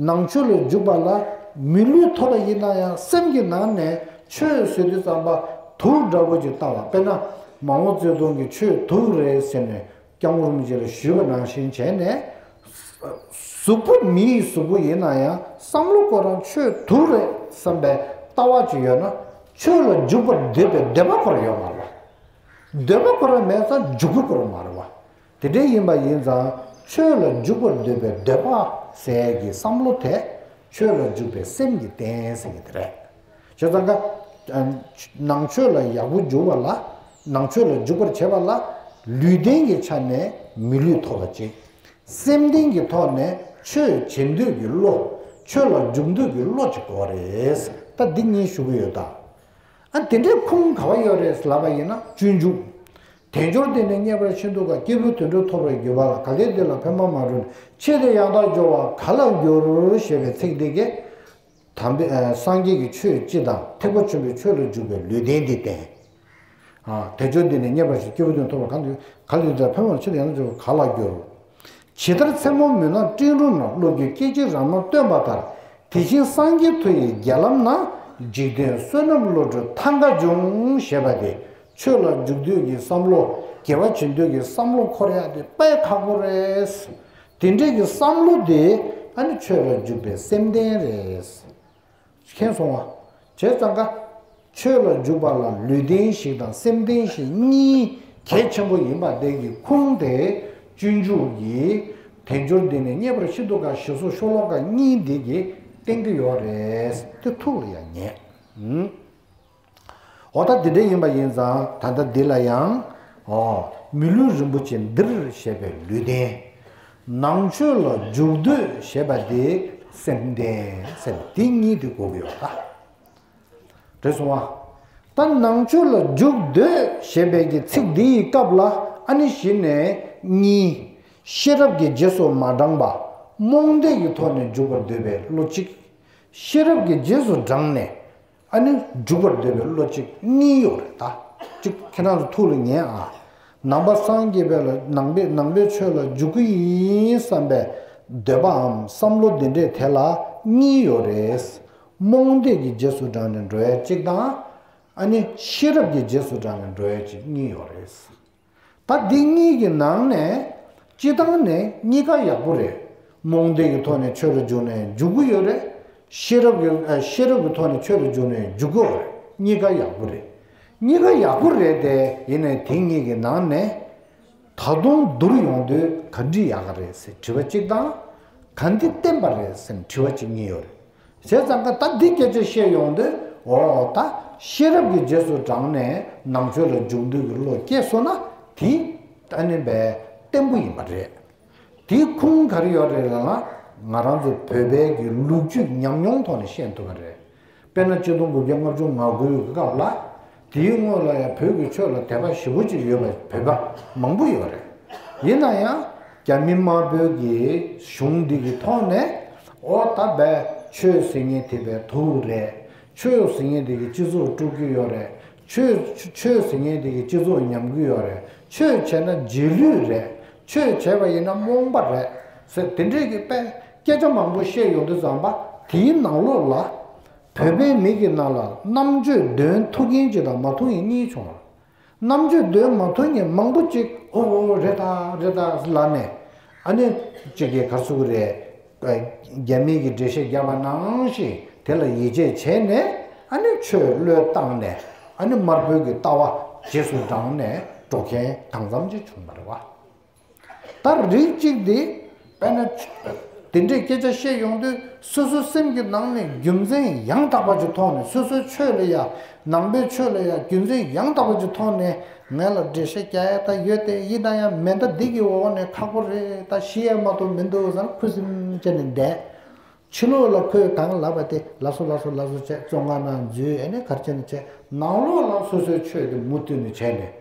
ནང་ཆོས་ལ་འཇུག་པ་ལ་མི་ལུས་ཐོབ་པ་ཡིན་ན་ཡང་སེམས་ཀྱི་ནང་ནས་ཆོས་ཟེར་དུས་རྩམ་པ་དུག་འདྲ་བོ་ཅིག་བཏང་བ་དཔེར་ན་མ་འོངས་བརྩེ་དུང་གི་ཆོས་དུག་རེད་ཟེར་ནས་རྐྱང་བུ་རུམ་བཞིན་ལ་བཞུས་པ་ནང་བཞིན་བྱས་ནས། གཟུགས་པོ་མི་ཡི་གཟུགས་པོ་ཡིན་ན་ཡང་བསམ་བློ་ཁོ་རང་ཆོས་དུག་རེད་བསམ་པའི་ལྟ་བ་ཅིག་ཡོད་ན། ཆོས་ལ་འཇུག་པར་འདོད་པའི་འདོད་པ་ཁོ་རང་ཡོད་མ་རེད་པ། འདོད་པ་ཁོ་རང་མེད་ཙང་འཇུག་པོ་ཁོ་རང་མ་རེད་པ། དེ་འདྲ་ཡིན་པ་ཡིན་ཙང་ཆོས་ལ་འཇུག་པར་འདོད་པའི་འདོད་པ་ཟེར་གྱི་བསམ་བློ་དེ་ཆོས་ལ་འཇུག་པའི་སེམས་ཀྱི་རྟེན་ཟེར་གྱི་དེ་རེད། ཞེས་བརྩམས་པ། ནང་ཆོས་ལ་ཡག་པོ་འཇུག་པ་ལ། ནང་ཆོས་ལ་འཇུག་པར་བྱེད་པ་ལ། ལུས་རྟེན་གྱི་ཆ་ནས་མི་ལུས་ཐོབ་པར་བྱེད། སེམས་རྟེན་གྱི་ཐོག་ནས་ཆོས་བྱེད་འདོད་ཀྱི་བློ། ཆོས་ལ་འཇུག་འདོད་ཀྱི་བློ་གཅིག་གོ་རེད། ད་འདི་གཉིས་ཞུ་གི་ཡོད་ད། དེ་འདྲའི་ཁུངས་ག་བ་ཡོད་རེད་ལབ་པ་ཡིན་ན་སྤྱོད་འཇུག། དལ་འབྱོར་འདི་ནས་རྙེད་པར་ཕྱིན་འདུག་ག་སྐྱེས་བུ་དུད་འགྲོ་ཐོབ་པར་གྱུར་པ་ལ་ག་གེ་འདི་ལ་ཕན་པ་མ་བྱུང་ནས་ཕྱིས་དེ་ཡང་དག་སྦྱོར་བ་ག་ལ་འགྱུར་ཞེས་པའི་ཚིག་འདི་གས། དམ་པའི་སངས་རྒྱས་ཀྱི་ཆོས་སྤྱི་དང་ཐེག་པ་ཆེན་པོའི་ཆོས་ལ་འཇུག་པའི་ལུས་རྟེན་འདི་བསྟན། དལ་འབྱོར་འདི་ནི་རྙེད་པ་ཞིག་སྐྱེས་བུ་དོན་ཐོབ་ལ་གང་དུ་ག་ལ་ཡོད་དེར་ཕན་བར་ཕྱིར་ཡང་དུ་འབྱོར་བ་ག་ལ་འགྱུར། ཇི་ལྟར་མཚན་མོ་མུན་ནག་སྤྲིན་རུམ་ན་བློ་རྒྱུད་སྐད་ཅིག་རང་སྣང་སྟོན་པ་ལྟར་དེ་བཞིན་སངས་རྒྱས་མཐུ་ཡིས་རྒྱལ་ལམ་ན་འཇིག་རྟེན་བསོད་ནམས་བློ་གྲོས་ཐ་མག་འབྱུང་ཞེས་པ་དེ་ཆོས་ལ་འཇུག་འདོད་ཀྱི་བསམ་བློ་དགེ་བ་བྱེད་འདོད་ཀྱི་བསམ་བློ་འཁོར་ཡག་དེ་དཔའི་ཁ་ཕོ་རེད། དེ་འདྲའི་གི་བསམ་བློ་དེ་ཨ་ནི་ཆོས་ལ་འཇུག་པའི་སེམས་ལྡན་རེད། མཁྱེན་སོང་ཨ། བྱས་ཙང་ཀ། ཆོས་ལ་འཇུག་པ་ལ་ལུས་ལྡན་ཞིག་དང་སེམས་ལྡན་ཞིག་གཉིས་གལ་ཆེན་པོ་ཡིན་པ་བདེན་གི་ཁུངས་དེ་སྤྱོད་འཇུག་གི་དལ་འབྱོར་འདི་ནས་རྙེད་པར་ཤིན་ཏུ་དཀའ་ཞེས་སོགས་ཤོ་ལོ་ཀ་གཉིས་འདི་གི་སྟེང་དུ་ཡོད་རེད་དེ་ཐུགས་ལ་ཡང་ཉེ། འོ་ད་འདི་འདྲ་ཡིན་པ་ཡིན་ཙང་ད་ལྟ་འདི་ལ་ཡང། འོ། མི་ལུས་རིན་པོ་ཆེ་འདིར་བཞད་པའི་ལུས་རྟེན། ནང་ཆོས་ལ་འཇུག་འདོད་ཞེས་པ་དེ་སེམས་རྟེན་ཟེར་བ་དེ་གཉིས་དེ་གོ་གི་ཡོད་ད། དྲོད་སོང་བ། ད་ནང་ཆོས་ལ་འཇུག་འདོད་ཞེས་པའི་གི་ཚིག་འདི་ཡི་སྐབས་ལ་ཨ་ནི་གཞི་ནས་གཉིས། ཤེས་རབ་ཀྱི་རྗེས་སུ་མ་འབྲངས་པ། རྨོངས་དད་ཀྱི་ཐོག་ནས་འཇུག་པར་འདོད་པའི་བློ་གཅིག། ཤེས་རབ་ཀྱི་རྗེས་སུ་འབྲངས་ནས། ཨ་ནི་འཇུག་པར་འདོད་པའི་བློ་གཅིག་གཉིས་གཡོག་རེད་ད། གཅིག་ཁྱེད་རང་ཚོ་ཐུགས་ལ་ཉན་ཨ། ནང་པ་སངས་རྒྱས་པའི་ལ་ནང་པའི་ནང་པའི་ཆོས་ལ་འཇུག་གི་ཡིན་བསམ་པའི་འདོད་པའམ་བསམ་བློ་འདི་འདྲས་དེ་ལ་གཉིས་ཡོད་རེད། རྨོངས་དད་ཀྱི་རྗེས་སུ་འབྲངས་ནས་འགྲོ་ཡ་གཅིག་དང། ཨ་ནི་ཤེས་རབ་ཀྱི་རྗེས་སུ་འབྲངས་ནས་འགྲོ་ཡ་གཅིག་གཉིས་ཡོད་རེད། ད་འདི་གཉིས་ཀྱི་ནང་ནས་སྤྱི་བཏང་ནས་གཉིས་ཀ་ཡག་པོ་རེད། རྨོངས་དད་ཀྱི་ཐོག་ནས་ཆོས་རུ་འཇུག་ནས་འཇུག་གི་ཡོད་རེད། ཤེས་རབ་ཀྱི་ཤེས་རབ་ཀྱི་ཐོག་ནས་ཆོས་རུ་འཇུག་ནས་འཇུག་གི་རེད་གཉིས་ཀ་ཡག་པོ་རེད། གཉིས་ཀ་ཡག་པོ་རེད་དེ་ཡིན་ནའི་དེ་གཉིས་ཀྱི་ནང་ནས་ད་དུང་བསྡུར་ཡོང་དུས་ག་འདི་ཡག་ག་རེད་སེམས་དྲི་བ་གཅིག་དང། ག་འདི་བསྟན་པ་རེད་སེམས་དྲི་བ་གཅིག་གཉིས་ཡོད་རེད། ཟས་གཙང་ཀ་ད་འདི་སྐད་ཅེས་བཤད་ཡོང་དུས་འོ་ད་ཤེས་རབ་ཀྱི་རྗེས་སུ་འབྲངས་ནས་ནང་ཆོས་ལ་འཇུག་འདོད་ཀྱི་བློ་སྐྱེས་སོང་ན་དེ་ཨ་ནི་བས་བརྟན་པོ་ཡིན་པ་རེད། དེའི་ཁུངས་ག་རེ་ཡོད་རེད་ལབ་ན་ང་རང་ཚོ་བོད་པའི་གི་ལུགས་རྒྱུད་ཉམས་མྱོང་ཐོག་ནས་བཤད་འདོད་པ་རེད། དཔེར་ན་སྤྱི་སྟོང་དགུ་བརྒྱ་ལྔ་བཅུ་ང་དགུའི་སྐབས་ལ། དེའི་སྔོན་ལ་ཡང་བོད་ཀྱི་ཆོས་ལ་དད་པ་ཞི་བོ་ཅིག་ཡོད་པ་བོད་པ་མང་པོ་ཡོད་རེད། ཡིན་ན་ཡང་རྒྱ་མི་དམར་བོད་ཀྱི་གཞུང་འདི་གི་ཐོག་ནས་ཨོ་ད་བས་ཆོས་ཟེར་ངེས་དེ་བས་དུག་རེད། ཆོས་ཟེར་ངེས་དེ་གི་སྤྱི་ཚོགས་དཀྲུག་གི་ཡོད་རེད། ཆོས་ཆོས་ཟེར་ངེས་དེ་གི་སྤྱི་ཚོགས་ཉམས་གི་ཡོད་རེད། ཆོས་བྱས་ན་རྗེས་ལུས་རེད། ཆོས་བྱས་པ་ཡིན་ན་རྨོངས་པ་རེད། ཟེར་དེ་འདྲས་ཀྱི་པས་སྐད་ཆ་མང་པོ་བཤད་ཡོང་གི་བརྫངས་པ་དེའི་ནང་ལོགས་ལ། བོད་པའི་མི་གི་ནང་ལ་རྣམ་དཔྱོད་འདོན་ཐུགས་ཡིན་གྱི་དང་མ་ཐུགས་ཡིན་གཉིས་བྱུང་བར། རྣམ་དཔྱོད་འདོན་མ་ཐུགས་ཡིན་མང་པོ་གཅིག་ཨོ་ཨོ་རེད་ད་རེད་ད་ལབ་ནས། ཨ་ནི། གཅིག་གིས་གར་སོང་གི་རེད། རྒྱ་མི་གི་འགྲེལ་བཤད་རྒྱག་པ་ནང་ཞིག་དེ་ལ་ཡིད་ཆེས་བྱས་ནས་ཨ་ནི་ཆོས་བློས་བཏང་ནས་ཨ་ནི་དམར་པོའི་གི་ལྟ་བ་རྗེས་སུ་འབྲངས་ནས་འགྲོ་མཁན་གང་འཚམ་གཅིག་བྱུང་བ་རེད་བ། ལྟར་རིགས་གཅིག་དེ་བས་ན། དེ་འདྲའི་སྐད་ཆ་བཤད་ཡོང་དུས་སོ་སོའི་སེམས་ཀྱི་ནང་ནས་རྒྱུ་མཚན་ཡང་དག་པ་གཅིག་མཐོང་ནས་སོ་སོའི་ཆོས་ལ་ཡང་ནང་པའི་ཆོས་ལ་ཡང་རྒྱུ་མཚན་ཡང་དག་པ་གཅིག་མཐོང་ནས་ངེད་ལ་འགྲེལ་བཤད་རྒྱག་ཡ་ད་ཡོད་དེ་ཡིད་ད་ཡང་མེད་ད་འདི་གི་འོག་ནས་ཁག་པོ་རེད་ད་ཤི་ཡ་མ་ཏོག་མི་འདུག་ཟེར་ཁུ་སིམ་བཅད་ནས་བསྡད། ཕྱི་ལོགས་ལ་ཁོས་དང་ལབ་པ་དེ་ལ་སོ་ལ་སོ་ལ་སོ་བྱས་བཙོ་ང་ནང་འཛུལ་ཨེ་ནས་གར་བྱས་ནས་བྱས་ནང་ལོགས་ལ་སོ་སོའི་ཆོས་དེ་མུ་མཐུད་ནས་བྱས་ནས་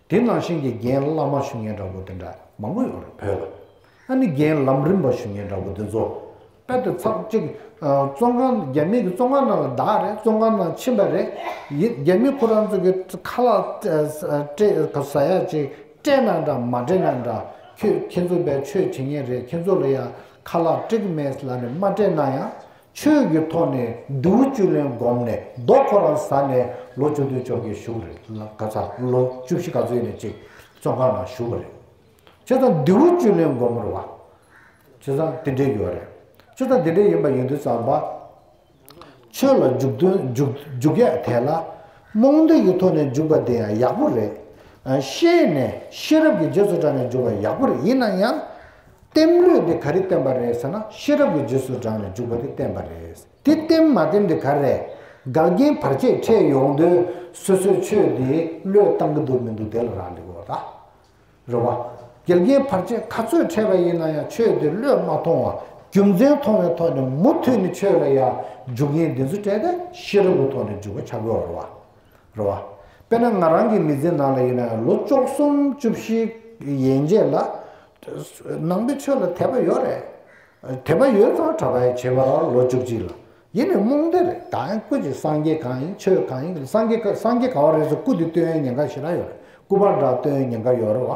དེ་ནང་བཞིན་གྱི་རྒན་བླ་མ་ཞུ་མཁན་འདྲ་བོ་དེ་འདྲ་མང་པོ་ཡོང་རེད་བོད་ལ། ཨ་ནི་རྒན་ལམ་རིམ་པ་ཞུ་མཁན་འདྲ་བོ་དེ་ཚོ་དཔལ་དུ་ཚགས་གཅིག་བཙོན་ཁང་རྒྱ་མི་གི་བཙོན་ཁང་ནང་ལ་བདག་རེད་བཙོན་ཁང་ནང་ཕྱིན་པ་རེད་ཡིན་རྒྱ་མི་ཁོ་རང་ཚོ་གི་ཁ་ལག་སྤྲད་ཟ་ཡག་ཅིག་སྤྲད་ན་འདྲ་མ་སྤྲད་ན་འདྲ་ཁྱོད་ཁྱེད་ཚོ་བས་ཆོས་བྱེད་མཁན་རེད་ཁྱེད་ཚོ་ལ་ཡང་ཁ་ལག་སྤྲད་གི་མེད་ལ་ནི་མ་སྤྲད་ན་ཡང་ཆོས་ཀྱི་ཐོག་ནས་མདེའུ་བཅུ་ལན་བསྒོམས་ནས་རྡོ་ཁོ་རང་ཟ་ནས་ལོ་བཅུ་དུས་མཆོག་གི་བཞུགས་རེད་ལ་ག་ཚ་ལོ་བཅུ་བཞི་ག་ཚོད་ནས་ཅིག་བཙོན་ཁང་ན་བཞུགས་པ་རེད། ཁྱོད་ཚང་མདེའུ་བཅུ་ལན་བསྒོམ་མི་རུང་བ། ཁྱོད་ཚང་དེ་འདྲས་ཡོད་རེད། ཁྱོད་ཚང་དེ་འདྲས་ཡིན་པ་ཡིན་དུས་ཙང་པ། ཆོས་ལ་འཇུག་དོན་འཇུག་འཇུག་ཡག་དེ་ལ། རྨོངས་དད་ཀྱི་ཐོག་ནས་འཇུག་པ་དེ་ཡང་ཡག་པོ་རེད། ཤེས་ནས་ཤེས་རབ་ཀྱི་རྗེས་སུ་འབྲངས་ནས་འཇུག་པ་ཡག་པོ་རེད་ཡིན་ན་ཡང། བསྟན་ལུས་འདི་ག་རེ་བསྟན་པ་རེད་ཟེར་ན་ཤེས་རབ་ཀྱི་རྗེས་སུ་འབྲང་ནས་འཇུག་པ་དེ་བསྟན་པ་རེད། དེ་བསྟན་མ་བསྟན་དེ་ག་རེད། འགལ་རྐྱེན་བར་ཆད་འཕྲད་ཡོང་དུས་སོ་སོའི་ཆོས་དེ་བློས་བཏང་གི་འདུག་མི་འདུག་དེ་ལ་རག་ལས་དགོས་པ་དང། རེད་བ། འགལ་རྐྱེན་བར་ཆད་ག་ཚོད་འཕྲད་པ་ཡིན་ན་ཡང་ཆོས་དེ་བློས་མ་མཐོང་བར་རྒྱུ་མཚན་མཐོང་བའི་ཐོག་ནས་མུ་མཐུད་ནས་ཆོས་ལ་ཡང་འཇུག་ངེས་འདི་ཚོ་བྲལ་ཏེ་ཤེས་རབ་ཀྱི་ཐོག་ནས་འཇུག་པ་བྱ་དགོས་བ་རེད་བ། རེད། དཔེར་ན་ང་རང་གི་མི་ཚེའི་ནང་ལ་ཡིན་ན་ཡང་ལོ་བཅོ་གསུམ་བཅུ་བཞི་ཡན་རྗེས་ལ། ནང་པའི་ཆོས་ལ་དད་པ་ཡོད་རེད། དད་པ་ཡོད་ཙང་གྲྭ་པའི་བྱེས་པ་རང་ལོ་བཅུ་གཅིག་ལ་ཡིན་ནས་རྨོངས་དད་རེད། ད་ཡང་སྐུ་ཅིག་སངས་རྒྱས་གང་ཡིན་ཆོས་གང་ཡིན་སངས་རྒྱས་གང་བ་རེད་ཟེར་སྐུ་དེ་བསྟོད་ཡོན་ཉེན་ཁ་ཞིག་རག་ཡོད་རེད་སྐུ་པར་འདྲ་བསྟོད་ཡོན་ཉེན་ཁ་ཡོད་རེད་བ།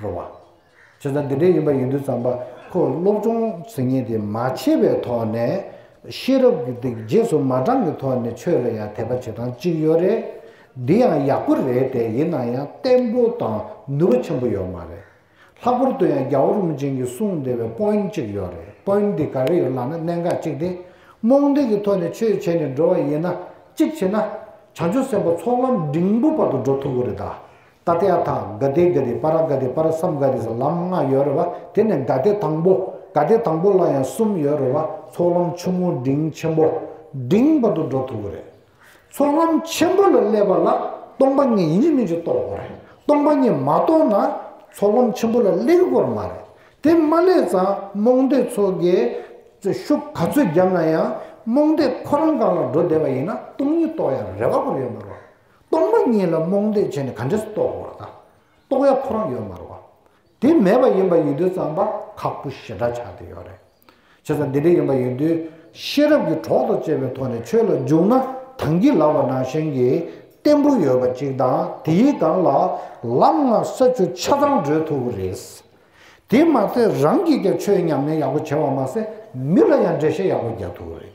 རོལ་བ། ཁྱོད་ཚང་འདི་འདྲའི་ཡིན་པ་ཡིན་དུས་ཙམ་པ་ཁོ་སློབ་སྦྱོང་ཟེར་ཉེན་དེ་མ་བྱས་པའི་ཐོག་ནས། ཤེས་རབ་ཀྱི་སྟེགས་རྗེས་སུ་མ་འབྲངས་པའི་ཐོག་ནས་ཆོས་ལ་ཡང་དད་པ་བྱེད་སྟངས་གཅིག་ཡོད་རེད། འདི་ཡང་ཡག་པོ་རེད་དེ་ཡིན་ན་ཡང་བརྟན་པོ་དང་ནུས་པ་ཆེན་པོ་ཡོད་མ་རེད། ལྷག་པོར་དུ་ཡང་རྒྱ་བོ་རིན་པོ་ཆེན་གྱིས་གསུངས་བདེ་བའི་པོའིན་གཅིག་ཡོད་རེད་པོའིན་དེ་ག་རེ་ཡོད་ལགས་ན་གནད་འགག་གཅིག་སྟེ། རྨོངས་དད་ཀྱི་ཐོག་ནས་ཆོས་བྱས་ནས་འགྲོ་བ་ཡིན་ན་གཅིག་བྱས་ན། བྱང་ཆུབ་སེམས་དཔའ་ཚོགས་ལམ་འབྲིང་པོ་བར་དུ་འགྲོ་ཐུབ་གི་རེད་ད། ཏཱ་ཏཱ་ཐ་གྷ་དེ་གྷ་དེ་པ་ར་གྷ་དེ་པ་ར་སམ་གྷ་དེ་སོགས་ལམ་ལྔ་ཡོད་རེད་བ་དེ་ནས་གྷ་དེ་དང་པོ་གྷ་དེ་དང་པོ་ལ་ཡང་གསུམ་ཡོད་རེད་བ་ཚོགས་ལམ་ཆུང་ངུ་འབྲིང་ཆེན་པོ་འབྲིང་བར་དུ་འགྲོ་ཐུབ་བོ་རེད། ཚོགས་ལམ་ཆེན་པོ་ལ་སླེབས་པ་ལ་སྟོང་པ་ཉིད་ཡིན་མིན་གྱི་རྟོགས་དགོས་རེད་སྟོང་པ་ཉིད་མ་རྟོགས་ན་ཚོགས་ལམ་ཆེན་པོ་ལ་སླེབ་དགོས་མ་རེད་དེ་མ་སླེབས་ཙང་རྨོངས་དད་ཚོགས་ཀྱི་ཤུགས་ག་ཚོད་རྒྱབ་ན་ཡང་རྨོངས་དད་ཁོ་རང་གང་ལ་འགྲོ་བདེ་བ་ཡིན་ན་སྟོང་ཉིད་རྟོགས་ཡ་རེ་བ་པོ་ཡོད་མ་རེད་བ། སྟོང་པ་ཉིད་ལ་རྨོངས་དད་བྱས་ནས་ག་འདྲས་སུ་རྟོག་གོ་ར་ད། རྟོག་ཡ་ཁོ་རང་ཡོད་མ་རུ་བ། དེ་མེད་པ་ཡིན་པ་ཡོད་དུས་ཙམ་པ་ཁག་པོ་ཞེ་དྲག་ཆགས་དུས་ཡོད་རེད། བྱས་ཙང་འདི་འདྲ་ཡིན་པ་ཡོད་དུས་ཤེས་རབ་ཀྱི་གྲོགས་དང་བཅས་པའི་ཐོག་ནས་ཆོས་ལ་འཇུག་ན་དང་གྱི་ལགས་པ་ནང་བཞིན་གྱི་བརྟན་པོ་ཡོད་པ་ཅིག་དང་དེ་ཡི་སྒང་ལ་ལམ་ལྔ་ས་བཅུ་ཆ་ཚང་བགྲོད་ཐུབ་པོ་རེད། དེ་མ་ཚད་རང་གིས་ཀྱང་ཆོས་ཉམས་ལེན་ཡག་པོ་བྱས་པ་མ་ཟད་མི་ལ་ཡང་འགྲེལ་བཤད་ཡག་པོ་རྒྱག་ཐུབ་པོ་རེད།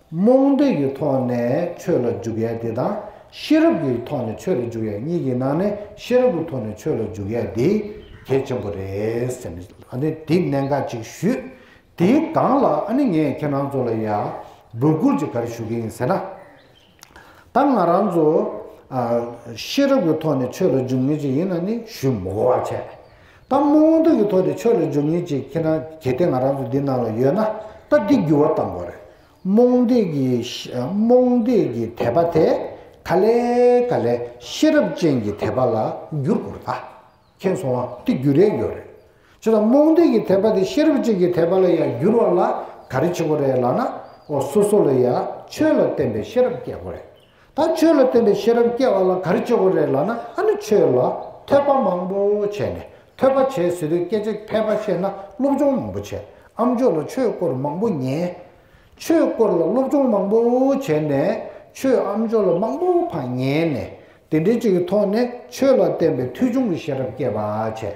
རྨོངས་དད་ཀྱི་ཐོག་ནས་ཆོས་ལ་འཇུག་ཡས་དེ་དང་ཤེས་རབ་ཀྱི་ཐོག་ནས་ཆོས་ལ་འཇུག་ཡས་གཉིས་ཀྱི་ནང་ནས་ཤེས་རབ་ཀྱི་ཐོག་ནས་ཆོས་ལ་འཇུག་ཡས་དེ་གལ་ཆེན་པོ་རེད། ཨཱ་ནི་དེ་གནད་འགག་ཅིག་ཞུས། དེའི་སྒང་ལ་ཨཱ་ནི་ངས་ཁྱེད་རང་ཚོ་ལ་ཡང་འབོད་སྐུལ་ཅིག་ག་རེ་ཞུ་གི་ཡིན་ཟེར་ན། ད་ང་རང་ཚོ་ཤེས་རབ་ཀྱི་ཐོག་ནས་ཆོས་ལ་འཇུག་ངེས་ཅིག་ཡིན་ན་ནི་ཞུ་མགོ་བ་བྱས། ད་མོ་དབང་སྡུག་གི་ཐོག་དེ་ཆོས་ལ་འཇུག་ཉེན་ཅིག་ཁྱེད་རང་གལ་ཏེ་ང་རང་ཚོ་འདི་ནང་ལ་ཡོད་ན་ད་འདི་འགྱུར་བ་གཏང་དགོས་རེད་རྨོངས་རྡེག་གི་རྨོངས་རྡེག་གི་དད་པ་དེ་ག་ལས་ག་ལས་ཤེས་རབ་ཅན་གྱི་དད་པ་ལ་འགྱུར་དགོས་རེད་ད་མཁྱེན་སོང་ང་འདི་འགྱུར་རན་ཡོད་རེད་ཇི་ལྟར་རྨོངས་རྡེག་གི་དད་པ་དེ་ཤེས་རབ་ཅན་གྱི་དད་པ་ལ་ཡང་འགྱུར་བ་ལ་ག་རེ་བྱེད་དགོས་རེད་ལགས་ན་འོ་སོ་སོ་ལ་ཡང་ཆོས་ལ་བརྟེན་པའི་ཤེས་རབ་སྐྱེ་དགོས་རེད། ད་ཆོས་ལ་བརྟེན་པའི་ཤེས་རབ་སྐྱེ་བ་ལ་ག་རེ་བཅོལ་དགོས་རེད་ལབ་ན་ཨ་ནི་ཆོས་ལ་ཐོས་པ་མང་པོ་བྱས་ནས་ཐོས་པ་བྱས་ཟེར་བའི་སྐད་ཆ་མཁས་པ་ཤེས་ན་སློབ་སྦྱོང་མང་པོ་བྱས་ཨམ་ཆོས་ལ་ཆོས་སྐོར་མང་པོ་ཉན། ཆོས་སྐོར་ལ་སློབ་སྦྱོང་མང་པོ་བྱས་ནས་ཆོས་ཨམ་ཆོས་ལ་མང་པོ་བག་ཉལ་ནས་དེ་འདྲའི་ཅིག་གི་ཐོག་ནས་ཆོས་ལ་བརྟེན་པའི་མཐུས་ཆུང་གི་ཤེས་རབ་སྐྱེ་བ་བྱས།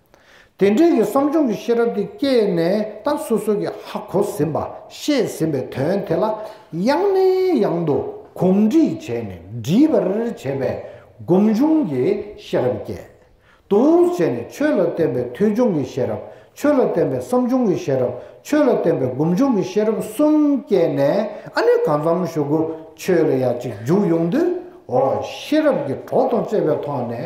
དེ་འབྲེལ་གྱི་བསམ་བྱུང་གི་ཤེས་རབ་དེ་སྐྱེས་ནས་ད་སོ་སོ་གྱིས་ཧ་གོ་ཟིན་པ་ཤེས་ཟིན་པའི་དོན་དེ་ལ་ཡང་ནས་ཡང་དུ་གོམས་འདྲིས་བྱས་ནས་འདྲིས་པར་བྱས་པས་སྒོམ་བྱུང་གི་ཤེས་རབ་སྐྱེ། དུ་བྱས་ནས་ཆོས་ལ་བརྟེན་པའི་ཐོས་བྱུང་གི་ཤེས་རབ་ཆོས་ལ་བརྟེན་པའི་བསམ་བྱུང་གི་ཤེས་རབ་ཆོས་ལ་བརྟེན་པའི་སྒོམ་བྱུང་གི་ཤེས་རབ་གསུམ་སྐྱེས་ནས་ཨ་ནི་གང་འཚམ་ཞུ་གུ་ཆོས་ལ་ཡ་གཅིག་འཇུག་ཡོང་དུས་འོ་ཤེས་རབ་ཀྱི་གྲོགས་དང་བཅས་པའི་ཐོག་ནས་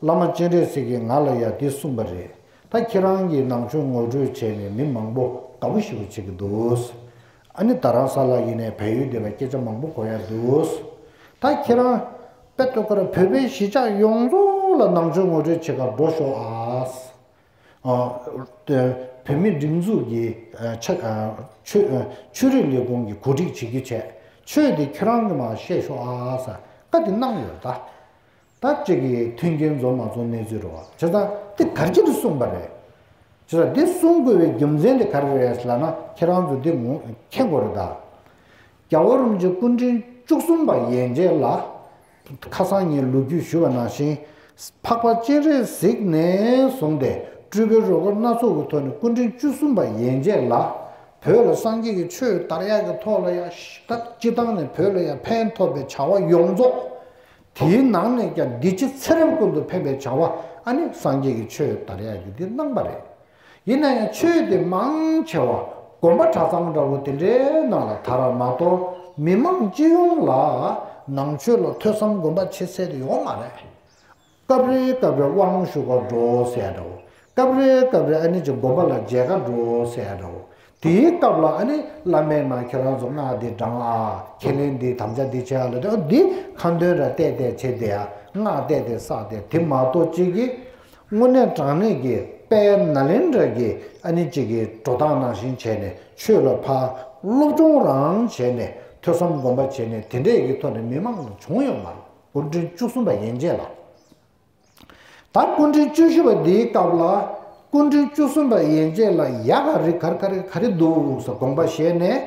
བླ་མ་སྤྱན་རས་གཟིགས་ཀྱིས་ང་ལ་ཡང་འདི་གསུངས་པ་རེད་ད་ཁྱེད་རང་གིས་ནང་ཆོས་ངོ་སྤྲོད་བྱས་ནས་མི་མང་པོ་དགའ་པོ་ཞིག་བྱེད་ཀྱི་འདུག་ཨ་ནི་ད་རང་ས་ལ་ཡིན་ནས་བལ་ཡུལ་འདི་ལ་སྐད་ཆ་མང་པོ་གོ་ཡ་འདུག་ད་ཁྱེད་རང་དཔེ་ལྟོས་ཁར་བོད་པའི་གཞིས་ཆགས་ཡོངས་རྫོགས་ལ་ནང་ཆོས་ངོ་སྤྲོད་བྱེད་ཁར་འགྲོ་ཤོག་ཨ། བོད་མི་སྒྲིག་འཛུགས་ཀྱིས་ཆོས་རིག་ལས་ཁུངས་ཀྱི་གོ་སྒྲིག་བྱེད་རྒྱུ་བྱས་ཆོས་དེ་ཁྱེད་རང་གིས་མ་བཤད་ཤོག་ཨ། བཀའ་དེ་གནང་ཡོད་ད། ད་ཅིག་གིས་མཐུན་རྐྱེན་འཛོམས་མ་འཛོམས་གནས་ཚུལ་རོ། བྱས་ཙང་འདི་ག་རྒྱུ་དེ་གསུངས་པ་རེད། བྱས་ཙང་འདི་གསུང་དགོས་པའི་རྒྱུ་མཚན་དེ་ག་རེ་རེད་ལབ་ན་ཁྱེད་རང་ཚོ་འདི་ངོ་མཁྱེན་དགོས་རེད་ད། རྒྱ་བོད་རིམ་བྱོན་སྐུ་འཕྲེང་བཅུ་གསུམ་པ་ཡན་རྗེ་ལ་ཁ་སང་ངས་ལོ་རྒྱུས་ཞུ་བ་ནང་བཞིན་འཕགས་པ་སྤྱན་རས་གཟིགས་ནས་བཟུང་སྟེ་སྤྲུལ་པའི་རོལ་གར་སྣ་ཚོགས་ཀྱི་ཐོག་ནས་སྐུ་འཕྲེང་བཅུ་གསུམ་པ་ཡན་རྗེ་ལ་བོད་ལ་སངས་རྒྱས་ཀྱི་ཆོས་དར་ཡག་གི་ཐོག་ལ་ཡང་ཞི་དར་སྤྱི་བཏང་ནས་བོད་ལ་ཡང་ཕན་ཐོགས་པའི་བྱ་བ་ཡོངས་རྫོགས་དེའི་ནང་ནས་ཀྱང་འདི་ཕྱི་ཚེ་རབས་ཀུན་ཏུ་ཕན་པའི་བྱ་བ་ཨ་ནི་སངས་རྒྱས་ཀྱི་ཆོས་དར་ཡག་གི་དེ་གནང་པ་རེད། ཡིན་ན་ཡང་ཆོས་དེ་མང་ཆེ་བ་དགོན་པ་གྲྭ་ཚང་འདྲ་བོ་དེ་འདྲའི་ནང་ལ་དར་བ་མ་གཏོགས་མི་མང་སྤྱི་ཡོངས་ལ་ནང་ཆོས་ལ་ཐོས་བསམ་སྒོམ་པ་བྱེད་ཚད་དེ་ཡོང་མ་རེད། སྐབས་རེ་སྐབས་རེ་དབང་ཤུགས་ཀ་འགྲོ་ཟེར་ཡ་འདྲ་བོ་སྐབས་རེ་སྐབས་རེ་ཨ་ནི་ཀྱི་དགོན་པ་ལ་མཇལ་ཁ་འགྲོ་ཟེར་རོ། དེའི་སྐབས་ལ་ཨ་ནི་བླ་མས་ན་ཁྱེད་རང་ཚོ་སྔགས་འདི་བགྲང་ཨ། ཁས་ལེན་འདི་དམ་བཅའ་འདི་བྱེད་ཨ་ལ་དེ་འདི་ཁ་འདོན་ར་བལྟས་བལྟས་བྱེད་བདེ་ཨ། སྔགས་བལྟས་བལྟས་བསགས་བདེ་དེ་མ་གཏོགས་ཅི་གི། དངོས་གནས་དྲང་གནས་ཀྱི་དཔལ་ན་ལེན་དྲ་གིས་ཨ་ནི་ཀྱི་གི་འགྲོ་སྟངས་ནང་བཞིན་བྱས་ནས་ཆོས་ལ་ཕ། སློབ་སྦྱོང་རང་བྱས་ནས་ཐོས་བསམ་སྒོམ་པ་བྱས་ནས་དེ་འདྲས་ཀྱི་ཐོག་ནས་མི་མང་ལ་བྱུང་ཡོད་མ་རེད་སྐུ་མགྲོན་བཅུ་གསུམ་པ་ཡན་ཆད་ལ། ད་སྐུ་མགྲོན་བཅུ་བཞི་པ་འདིའི་སྐབས་ལ་སྐུ་མགྲོན་བཅུ་གསུམ་པ་ཡན་ཆད་ལ་ཡ་ག་རི་གར་ག་རི་ག་རི་འདུག་ས་དགོངས་པ་བཞེས་ནས་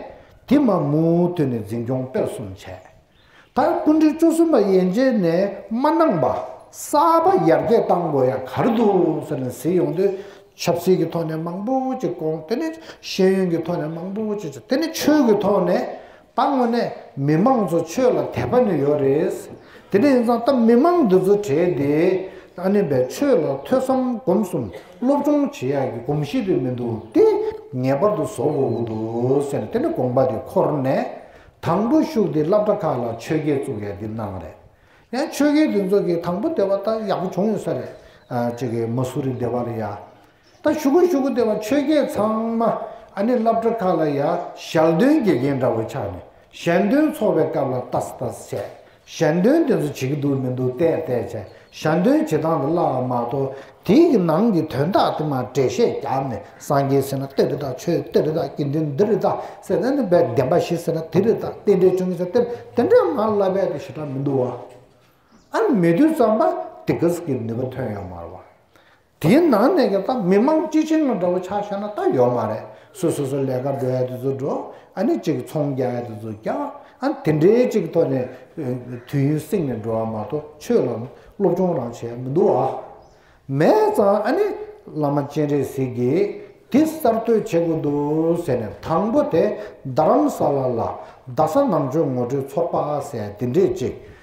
དེ་མ་མུ་མཐུད་ནས་འཛིན་སྐྱོང་སྤེལ་གསུམ་བྱས། ད་སྐུ་མགྲོན་བཅུ་གསུམ་པ་ཡན་ཆད་ནས་མ་གནང་པ་གསར་པ་ཡར་རྒྱས་བཏང་དགོས་ཡ་ག་རི་འདུག་ས་ནས་ཟིན་ཡོང་དུས་ཆབ་སྲིད་ཀྱི་ཐོག་ནས་མང་པོ་ཅིག་དཀོན་དེ་ནས་ཤེས་ཡོན་གྱི་ཐོག་ནས་མང་པོ་ཅིག་བྱ་དེ་ནས་ཆོས་ཀྱི་ཐོག་ནས་ད་དངོས་གནས་མི་མང་ཚོ་ཆོས་ལ་དད་པ་ནི་ཡོད་རེད། དེ་འདྲ་ཡིན་ཙང་ད་མི་མང་འདི་ཚོ་གྲས་དེ་ཨ་ནེ་བས་ཆོས་ལ་ཐོས་བསམ་སྒོམ་གསུམ་སློབ་སྦྱོང་བྱེད་ཡག་གི་གོམས་གཤིས་དེ་མི་འདུག་དེ་ངེས་པར་དུ་བཟོ་དགོས་ཀྱི་འདུག་ཟེར་དེ་ནས་དགོངས་པ་དེ་འཁོར་ནས་དང་པོ་ཤུག་དེ་བླ་བྲ་ཁག་ལ་ཆོས་སྐད་བཙུགས་ཡག་གི་གནང་རེད། ཡང་ཆོས་སྐད་དེ་ཚོ་གི་དང་པོ་སྡེ་བ་ད་ཡག་པོ་བྱུང་ཡོད་ས་རེད། ཅེ་གི་མ་སུ་རི་སྡེ་བ་རེད་ཡ། ད་ཞུ་གུ་ཞུ་གུ་དེ་བ་ཆོས་རྒྱལ་ཚང་མ་ཨ་ནི་བླ་བྲ་ཁ་ལ་ཡ་ཞལ་འདོན་དགེ་རྒན་འདྲ་བོ་ཆགས་ནས་ཞལ་འདོན་ཚོགས་པའི་སྐབས་ལ་ལྟ་ལྟ་བྱས་ཞལ་འདོན་དེ་ཚོ་བྱེད་ཀྱི་འདུག་མི་འདུག་བལྟས་བལྟས་བྱས་ཞལ་འདོན་བྱེད་སྟངས་ལ་བླ་བ་མ་གཏོགས་དེའི་གི་ནང་གི་དོན་དག་དེ་མ་འབྲེལ་བཤད་རྒྱབ་ནས་སངས་རྒྱས་ཟེར་ན་དེ་རི་དྭགས་ཆོས་དེ་རི་དྭགས་དགེ་འདུན་འདི་རི་དྭགས་ཟེར་ན་ནི་བད་འདན་པ་ཞིག་ཟེར་ན་དེ་རི་དྭགས་རྟེན་འབྲེལ་བྱུང་གི་ཟེར་དེར་དེ་འདྲ་མ་བླ་བད་དུ་ཞེ་དྲག་མི་འདུག་བ་ཨ་མེ་དུས་ཙམ་པ་དེ་གི་སི་གི་ནུས་པ་ཐོན་ཡོང་མར་བ། དེའི་ནང་ནས་ཀྱང་སྟབས་མི་དམངས་སྤྱི་བྱིངས་ལ་འདྲ་བོ་ཆགས་ཤག་ན་སྟབས་ཡོད་མ་རེད། སུ་སོ་སོ་ལས་ཀ་འགྲོ་ཡ་དེ་ཚོ་འགྲོ། ཨ་ནི་ཅིག་ཚོང་རྒྱག་ཡ་དེ་ཚོ་རྒྱག། ཨ་ནི་དེ་འདྲའི་ཅིག་ཐོག་ནས་དུས་ཡུན་བསྲིང་ནས་འགྲོ་བ་མ་གཏོགས་ཆོས་ལ་སློབ་སྦྱོང་རང་བྱས་མི་འདུག་ཨ། མེད་ཙང་ཨ་ནི་བླ་མ་སྤྱན་རས་གཟིགས་ཀྱིས་དེ་གསར་གཏོད་བྱེད་དགོས་འདུག་ཟེར་ནས་དང་པོ་དེ་རྡ་རམ་ས་ལ་ལ་རྡ་ས་ནང་ཆོས་ངོ་སྤྲོད་ཚོགས་པ་ཟེར་དེ་འདྲས་ཅིག་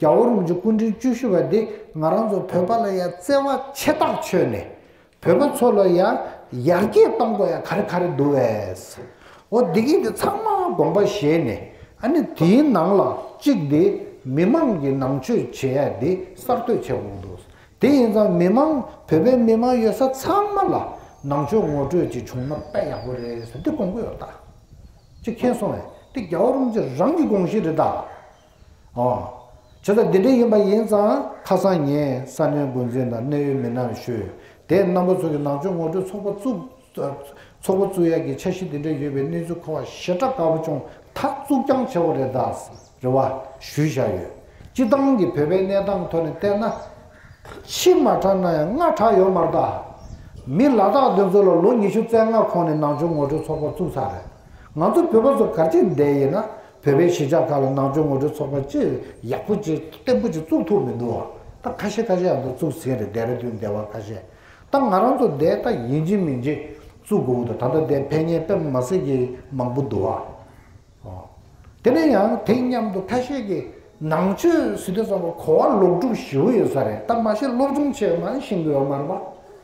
རྒྱ་བོད་རང་བྱུང་སྐུ་འཕྲེང་བཅུ་བཞི་བ་འདི་ང་རང་ཚོ་བོད་པ་ལ་ཡང་བརྩེ་བ་ཆེ་ཐག་ཆོད་ནས་བོད་པ་ཚོ་ལ་ཡང་ཡར་རྒྱས་གཏོང་དགོས་ཡ་ག་རེ་ག་རེ་འདུག་བས། འོ་འདི་གིས་འདི་ཚང་མ་དགོངས་པ་བཞེས་ནས་ཨ་ནི་དེའི་ནང་ལ་གཅིག་འདི་མི་མང་གི་ནང་ཆོས་བྱེད་ཡ་འདི་གསར་གཏོད་བྱས་འོང་འདུག་དེ་ཡིན་ཙང་མི་མང་བོད་པའི་མི་མང་ཡོད་ས་ཚང་མ་ལ་ནང་ཆོས་ངོ་སྤྲོད་ཅིག་བྱུང་ན་དཔེ་ཡག་པོ་རེད་ཟེར་འདི་དགོངས་ཀྱི་ཡོད་ད། ཅིག་མཁྱེན་སོང་བས་འདི་རྒྱ་བོད་རང་བྱུང་རང་གི་དགོངས་གཞི་རེད་ད། ཨ། ཁྱོད་ལ་འདི་འདྲའི་ཡིན་པ་ཡིན་ཙང་ཁ་སང་ངས་ས་གནས་འགོ་འཛིན་དང་གནད་ཡོད་མི་སྣར་ཞུས་དེས་གནམ་ལོ་ཚུགས་ཀྱི་ནང་ཆོས་ངོ་སྤྲོད་ཚོགས་པ་བཙུགས་བཙུགས་ཡག་གི་འཆར་གཞི་འདི་འདྲ་ཡོད་པའི་གནས་ཚུལ་ཁོ་བ་ཞེ་དྲག་དཀར་པོ་ཅུང་ཐག་བཙུགས་རྐྱང་ཆེ་བོ་རེ་བ་ཞུས་བཞག་ཡོད། སྤྱི་བཏང་གི་བོད་པའི་གནས་སྟངས་ཐོག་ནས་བལྟས་ན། ཕྱི་མ་དྲག་ན་ཡང་སྔ་དྲག་ཡོད་མ་རྟགས། མི་ལ་དྭགས་འདི་ཚོ་ལ་ལོ་ཉི་ཤུ་རྩེ་ལྔ་གོང་ནས་ནང་ཆོས་ངོ་སྤྲོད་ཚོགས་པ་བཙུགས་ཚར་རེད། ང་ཚོ་བོད་པ་ཚོ་གར་སྐྱེས་འདས་ཡིན་ན་བོད་པའི་གཞིས་ཆགས་ཁག་ལ་ནང་ཆོས་ངོ་སྤྲོད་ཚོགས་པ་ཅི་ཡག་པོ་ཅི་བརྟན་པོ་ཅི་བཙུགས་ཐུབ་མི་འདུག་ད་ཁ་ཤས་ཁ་ཤས་ཡང་ད་བཙུགས་ཟིན་རེད་འདས་ར་དུས་འདས་བ་ཁ་ཤས་ད་ང་རང་ཚོ་འདས་ད་ཡིན་གྱི་མིན་གྱི་བཙུགས་དགོས་ཀྱི་འདུག་ད་ལྟ་འདས་ཕན་ངན་པད་མ་མ་སྲིད་ཀྱི་མང་པོ་འདུག་ཨ། དེ་ནས་ཡང་དེ་མཉམ་དུ་ཁ་ཤས་ཀྱི་ནང་ཆོས་སྲིད་དོན་ཚོགས་པ་གོ་བ་ལོག་སྒྲུབ་ཞུ་གི་ཡོད་ས་རེད་ད་མ་གཞི་སློབ་སྦྱོང་ཆེད་མ་ཤིང་གི་ཡོ་མར་བ་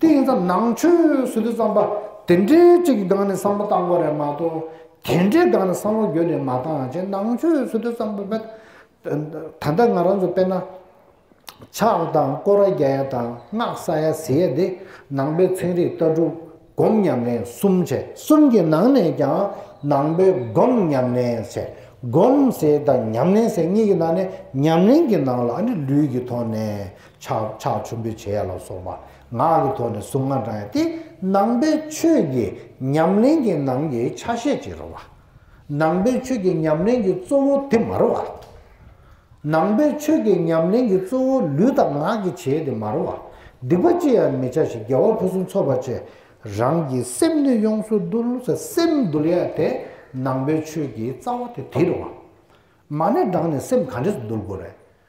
དེ་ཡིན་ཙམ་ནང་ཆོས་སུ་དེ་ཙམ་པ་དེ་འདྲའི་གཅིག་གི་སྒང་ནས་བསམ་བློ་བཏང་གོ་རེད་མ་གཏོགས་དེ་འདྲའི་སྒང་ནས་བསམ་བློ་རྒྱུ་ལས་མ་བཏང་ཅེ་ནང་ཆོས་སུ་དེ་ཙམ་པ་ད་ལྟ་ང་རང་ཚོ་དཔེར་ན་ཕྱག་དང་བསྐོར་བ་རྒྱ་ཡ་དང་སྔགས་ས་ཡ་ཟི་ཡ་དེ་ནང་པའི་ཚན་རིག་ལྟ་གྲུབ་སྒོམ་ཉམས་ལེན་གསུམ་བྱས་གསུམ་གྱི་ནང་ནས་ཀྱང་ནང་པའི་སྒོམ་ཉམས་ལེན་བྱས་སྒོམ་ཟེར་དང་ཉམས་ལེན་ཟེར་གཉིས་ཀྱི་ནང་ནས་ཉམས་ལེན་གྱི་ནང་ལ་ནི་ལུས་ཀྱི་ཐོག་ནས་ཆག་ཆག་ཆུ་འབུད་བྱེད་ཡ་ལ་སོགས་པ་ངག་གི་ཐོག་ནས་གཟུངས་སྔགས་བགྲང་ཡ་དེ་ནང་པའི་ཆོས་ཀྱི་ཉམས་ལེན་གྱི་ནང་གི་ཆ་ཤས་ཅིག་རུང་བ། ནང་པའི་ཆོས་ཀྱི་ཉམས་ལེན་གྱི་གཙོ་བོ་དེ་མ་རུང་བ། ནང་པའི་ཆོས་ཀྱི་ཉམས་ལེན་གྱི་གཙོ་བོ་ལུས་དང་ངག་གི་བྱེད་དེ་མ་རུང་བ། སྡིག་པ་ཅི་ཡང་མི་བྱ་ཞིང་རྒྱལ་བ་ཕུན་སུམ་ཚོགས་པ་ཆེ་རང་གི་སེམས་ནུས་ཡོངས་སུ་བརྡུལ་བ་སེམས་བརྡུལ་ཡ་དེ་ནང་པའི་ཆོས་ཀྱི་རྩ་བ་དེ་དེ་རུང་བ། མ་ནས་བགྲང་ནས་སེམས་ག་འདྲས་སུ་བརྡུལ་དགོས་རེད།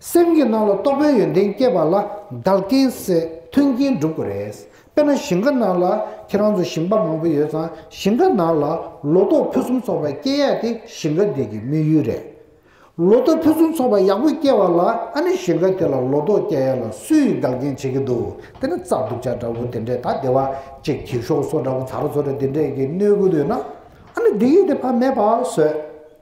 སེམས་ཀྱི་སྣང་ལ་རྟོག་པའི་ཡོན་ཏན་སྐྱེས་པ་ལ་བདག་རྐྱེན་སེ་མཐུན་རྐྱེན་སྒྲུབ་དགོས་རེད། དཔེར་ན་ཞིང་ཁ་ནང་ལ་ཁྱེད་རང་ཚོ་ཞིང་པ་མང་པོ་ཡོད་ཙང་ཞིང་ཁ་ནང་ལ་ལོ་ཏོག་ཕུན་སུམ་ཚོགས་པ་སྐྱེ་ཡག་དེ་ཞིང་ཁ་དེ་གི་དམིགས་ཡུལ་རེད། ལོ་ཏོག་ཕུན་སུམ་ཚོགས་པ་ཡག་པོ་སྐྱེ་བ་ལ་ཨ་ནི་ཞིང་ཁ་དེ་ལ་ལོ་ཏོག་སྐྱེ་ཡག་ལ་སུས་ཡིས་བདག་རྐྱེན་བྱེད་ཀྱི་འདུག་དེ་ནི་རྩྭ་དུག་ཆ་འདྲ་བོ་དེ་འདྲས་ད་ལྟེ་བ་ཅིག་གྱིས་ཤོག་སོ་འདྲ་བོ་ཚ་རོ་ཚོ་རེ་དེ་འདྲས་ཀྱིས་གནོད་དགོས་དུས་ན་ཨ་ནི་སྡིག་ཡིག་དེ་ཕ་མས་པ་ཟོས།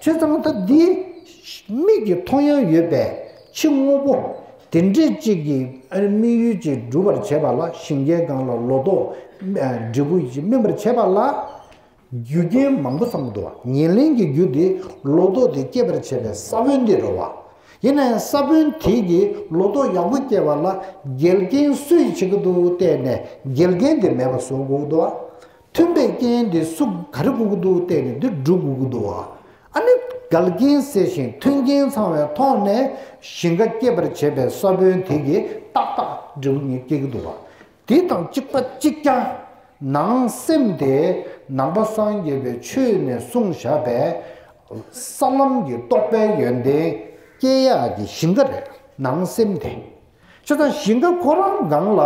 ཚེ་གཙང་ཐབས་འདི། མིག་གི་མཐོང་ཡང་ཡོད་པས་ཕྱི་དངོས་པོ། དེ་འདྲའི་གཅིག་གིས་དམིགས་ཡུལ་གཅིག་སྒྲུབ་པར་བྱེད་པ་ལ་ཞིང་ཁའི་སྒང་ལ་ལོ་ཏོག། འབྲས་བུ་གཅིག་སྨིན་པར་བྱེད་པ་ལ། རྒྱུ་རྐྱེན་མང་པོ་བསམ་མི་དོ། ཉེར་ལེན་གྱི་རྒྱུ་དེ་ལོ་ཏོག་དེ་སྐྱེད་པར་བྱེད་པའི་ས་བོན་དེ་རོ་བ། ཡིན་ན་ཡང་ས་བོན་དེ་གིས་ལོ་ཏོག་ཡག་པོ་སྐྱེ་བ་ལ་འགལ་རྐྱེན་སུས་བྱེད་ཀྱི་འདུག་བལྟས་ནས་འགལ་རྐྱེན་དེ་མེད་པ་བཟོ་དགོས་དོ། མཐུན་པའི་རྐྱེན་དེ་སུ་ག་རེ་བཀུག་གི་འདུག་བལྟས་ནས་འདིར་འབྲུ་བཀུག་གི་འདུག་ཨ་ནི་འགལ་རྐྱེན་སེལ་ཞིང་མཐུན་རྐྱེན་ཚང་བའི་ཐོག་ནས་ཞིང་ཁ་སྐྱེད་པར་བྱེད་པའི་ས་བོན་དེ་གིས་ཏག་ཏག་འབྲས་བུ་ཉིད་སྐྱེ་གི་འདུག་དེ་དང་གཅིག་པ་གཅིག་རྐྱང། ནང་སེམས་དེ་ནང་པ་སངས་རྒྱས་པའི་ཆོས་ནས་གསུངས་བཞག་པས། ས་ལམ་གྱི་རྟོགས་པའི་ཡོན་ཏན་སྐྱེ་ཡག་གི་ཞིང་ཁ་རེད་ནང་སེམས་དེ། ཆ་ཚང་ཞིང་ཁ་ཁོ་རང་སྒང་ལ།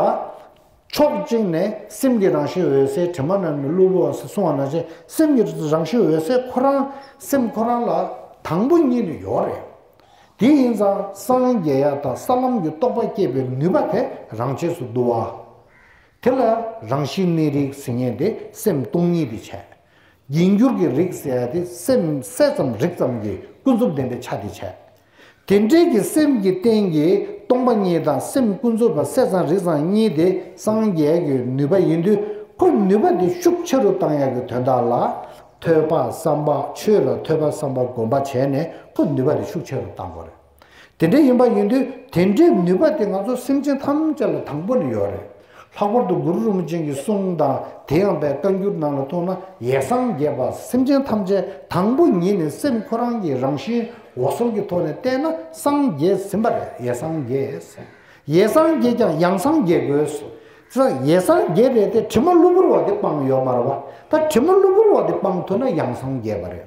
ཕྱོགས་གཅིག་ནས་སེམས་ཀྱི་རང་བཞིན་འོད་གསལ་དྲི་མ་རྣམས་ནི་གློ་བུར་བ་སོགས་གསུང་བ་ན་བྱས་སེམས་ཀྱི་རང་བཞིན་འོད་གསལ་ཁོ་རང་སེམས་ཁོ་རང་ལ་དང་པོ་གཉིས་ནི་ཡོད་རེད། དེ་ཡིན་ཙང་སངས་རྒྱས་ཡ་དང་ས་ལམ་གྱི་རྟོགས་པ་བསྐྱེད་པའི་ནུས་པ་དེ་རང་ཆས་སུ་འདུ་བ། དེ་ལ་རང་བཞིན་གནས་རིགས་ཟིལ་གནས་དེ་སེམས་སྟོང་ཉིད་དུ་བྱས། རྒྱས་འགྱུར་གྱི་རིགས་ཟེར་བ་དེ་སེམས་གསལ་ཙམ་རིག་ཙམ་གྱི་ཀུན་རྫོབ་བདེན་པའི་ཆ་དེ་བྱས། དེ་འབྲེལ་གྱི་སེམས་ཀྱི་རྟེན་གྱི་སྟོང་པ་ཉིད་དང་སེམས་ཀུན་རྫོབ་པ་གསལ་ཚང་རིག་ཚང་གཉིས་དེ་སངས་རྒྱས་ཀྱི་ནུས་པ་ཡིན་དུས་ཁོ་ནུས་པ་དེ་ཤུགས་ཆེ་རུ་བཏང་ཡག་གི་དོན་དག་ལ། ཐོས་པ་བསམ་པ་ཆོས་ལ་ཐོས་པ་བསམ་པ་སྒོམ་པ་བྱས་ནས་ཁོ་ནུས་པ་དེ་ཤུགས་ཆེ་རུ་བཏང་དགོས་རེད། དེ་འདྲ་ཡིན་པ་ཡིན་དུས་དེ་འདྲའི་ནུས་པ་དེ་ང་ཚོ་སེམས་ཅན་ཐམས་ཅད་ལ་དང་པོ་ནས་ཡོད་རེད། ལྷག་པར་དུ་གུ་རུ་རིན་པོ་ཆེན་གྱི་གསུང་དང་དེ་ཡངས་པའི་བཀའ་འགྱུར་ནང་ལ་མཐོང་ན་ཡེ་སངས་རྒྱས་པ་སེམས་ཅན་ཐམས་ཅད་དང་པོ་ཉིད་ནས་སེམས་ཁོ་རང་གི་རང་བཞིན་འོ་ཟོམ་གྱི་ཐོག་ནས་བསྟན་ན་སངས་རྒྱས་ཟིན་པ་རེད་ཡེ་སངས་རྒྱས། ཡེ་སངས་རྒྱས་ཀྱང་ཡང་སངས་རྒྱས་དགོས། ས་ཡེ་སངས་རྒྱས་རེད་དེ་དྲི་མ་གློ་བུར་བ་དེ་སྤང་ཡོད་མ་རེད་བ་ད་དྲི་མ་གློ་བུར་བ་དེ་སྤང་ཐུབ་ན་ཡང་སངས་རྒྱས་པ་རེད།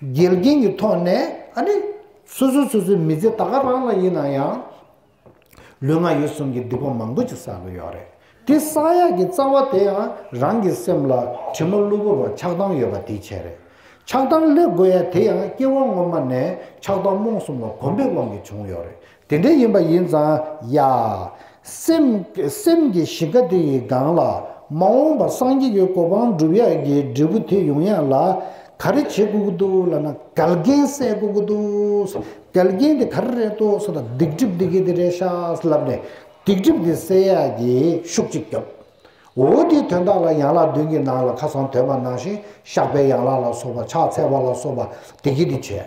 དགེ་རྒན་གྱི་ཐོག་ནས་ཨ་ནི། སོ་སོ་སོ་སོའི་མི་ཚེ་ད་ག་རང་ལ་ཡིན་ན་ཡང། ལུས་ངག་ཡིད་གསུམ་གྱི་སྡིག་པ་མང་པོ་ཅིག་བསགས་ཀྱི་ཡོད་རེད་དེ་བསགས་ཡག་གི་རྩ་བ་དེ་ཡང་རང་གི་སེམས་ལ་དྲི་མ་གློ་བུར་བ་ཆགས་སྡང་ཡོད་པ་དེའི་ཆེད་རེད་ཆགས་སྡང་སླེབས་དགོས་ཡ་དེ་ཡང་སྐྱེ་བ་སྔོན་མ་ནས་ཆགས་སྡང་རྨོངས་གསུམ་ལ་གོམས་པའི་དབང་གིས་བྱུང་ཡོད་རེད་དེ་འདྲ་ཡིན་པ་ཡིན་ཙང་ཡ། སེམས། སེམས་ཀྱི་གཞི་ཀ་དེ་ཡི་སྒང་ལ། མ་འོངས་པ་སངས་རྒྱས་ཀྱི་གོ་འཕང་སྒྲུབ་ཡ་གི་འབྲས་བུ་དེ་ཡོང་ཡ་ལ། ག་རེ་བྱེད་དགོས་ཀྱི་འདུག་ལབ་ན་དགལ་རྒྱན་བསད་དགོས་ཀྱི་འདུག། དགལ་རྒྱན་དེ་ག་རེ་རེད་དོ་ཟེར་ན་སྡིག་སྒྲིབ་དེ་གི་དེ་རེད་ཤགས་ལབ་ནས་སྡིག་སྒྲིབ་དེ་བསད་ཡ་གི་ཤུགས་གཅིག་རྒྱབ། འོ་དེའི་དོན་དག་ལ་ཡན་ལག་བདུན་གྱི་ནང་ལ་ཁ་སང་དོན་པ་ནང་བཞིན་བཤགས་པའི་ཡན་ལག་ལ་སོགས་པ་ཕྱག་འཚལ་བ་ལ་སོགས་པ་དེ་གི་དེ་བྱས།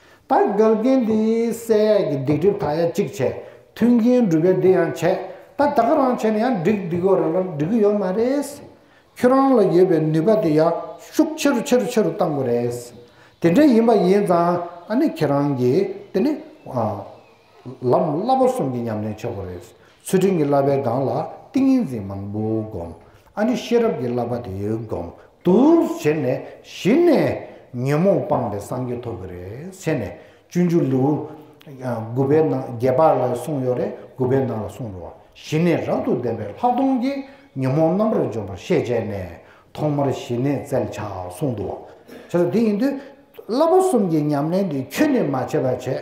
ད་དགག་རྒྱན་འདི་གསལ་ཡས་ཀྱི་སྡིག་སྒྲིབ་དག་ཡ་གཅིག་བྱས་མཐུན་རྐྱེན་སྒྲུབ་པའི་འདི་ཡང་བྱས་ད་དགག་རང་བྱས་ན་ཡང་འགྲིག་འགྲིག་གོ་རང་རང་འགྲིག་གི་ཡོད་མ་རེད། ཁྱོད་རང་ལ་ཡོད་པའི་ནུས་པ་དེ་ཡར་ཤུགས་ཆེ་རུ་ཆེ་རུ་ཆེ་རུ་བཏང་དགོས་རེད། དེ་འདྲ་ཡིན་པ་ཡིན་ཙང་ཨ་ནི་ཁྱེད་རང་གིས་དེ་ནི། ལམ་བསླབ་པ་གསུམ་གྱི་ཉམས་ལེན་ཆོག་པ་རེད། ཚུལ་ཁྲིམས་ཀྱི་བསླབ་པའི་སྒང་ལ་ཏིང་ངེ་འཛིན་མང་པོ་བསྒོམ། ཨ་ནི་ཤེས་རབ་ཀྱི་བསླབ་པ་དེ་བསྒོམ་དུར་བྱས་ནས་གཞི་ནས་ཉོན་མོངས་སྤངས་པའི་སངས་རྒྱས་ཐོབ་གི་རེད་ཟེར་ནས་སྤྱོད་འཇུག་ལེའུ་དགུ་པའི་ནང་བརྒྱད་པ་ལ་གསུངས་ཡོད་རེད་དགུ་པའི་ནང་ལ་གསུངས་འགྲོ་བ་གཞི་ནས་རབ་ཏུ་ལྡན་པའི་ལྷག་མཐོང་གིས་ཉོན་མོངས་རྣམ་པར་འཇོམས་པར་ཤེས་བྱས་ནས་ཐོག་མར་གཞི་ནས་བཙལ་བྱ་གསུངས་འདུག་བྱས་ཙང་དེ་ཡིན་དུས་བསླབ་པ་གསུམ་གྱི་ཉམས་ལེན་དེ་ཁྱོད་ནས་མ་བྱས་པ་བྱས།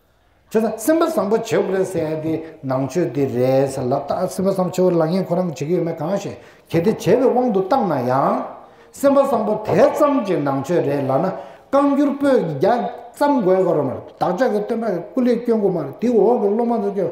བྱས་ཙང་སེམས་པ་བཟང་པོ་བྱེད་དགོས་ཟེར་ཡང་དེ་ནང་ཆོས་དེ་རེད་ཟེར་ལབ་སྟབས་སེམས་པ་བཟང་པོ་བྱེད་དགོས་ལག་གཉིས་ཁོ་རང་གིས་བྱེད་ཀྱི་ཡོད་མེད་གང་ཤེས་གལ་ཏེ་བྱས་པའི་དབང་དུ་བཏང་ན་ཡང། སེམས་པ་བཟང་པོ་དེ་ཙམ་གྱི་ནང་ཆོས་རེད་ལབ་ན་བཀའ་འགྱུར་པོད་ཀྱི་བརྒྱ་ཙམ་དགོས་གི་རོ་མ་རེད་བདག་ཅག་གི་སྟོན་པ་ཀུན་ལས་སྐྱོན་དགོས་མ་རེད་དེའི་འོག་གི་སློབ་མ་ཚོ་ཀྱང།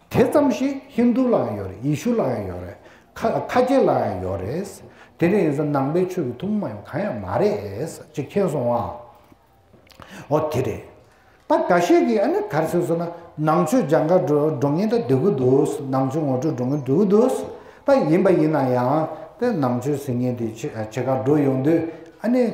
དེ་ཙམ་ཞིག་ཧིན་དྷུ་ལའང་ཡོད་རེད་ཡེ་ཤུ་ལའང་ཡོད་རེད། ཁ་སྐྱེ་ལའང་ཡོད་རེད། དེ་འདྲ་ཡིན་ས་ནང་པའི་ཆོས་ཀྱི་ཐུགས་མ་ཡོང་གང་ཡང་མ་རེད། ཅེས་མཁྱེན་སོང་ང། འོ་དེ་རེད། ད་འགའ་ཤས་ཀྱིས་ཨ་ནེ་གར་སོན་སོང་ན་ནང་ཆོས་སྦྱང་དགའ་འགྲོ་ངེས་ད་འདོད་གི་འདུག་ནང་ཆོས་ངོ་སྤྲོད་འགྲོ་ངེས་འདོད་གི་འདུག་ད་ཡིན་པ་ཡིན་ན་ཡང། ནང་ཆོས་ཟེར་མཁན་དེ་ཆེ་གར་འགྲོ་ཡོང་དུས་ཨ་ནེ།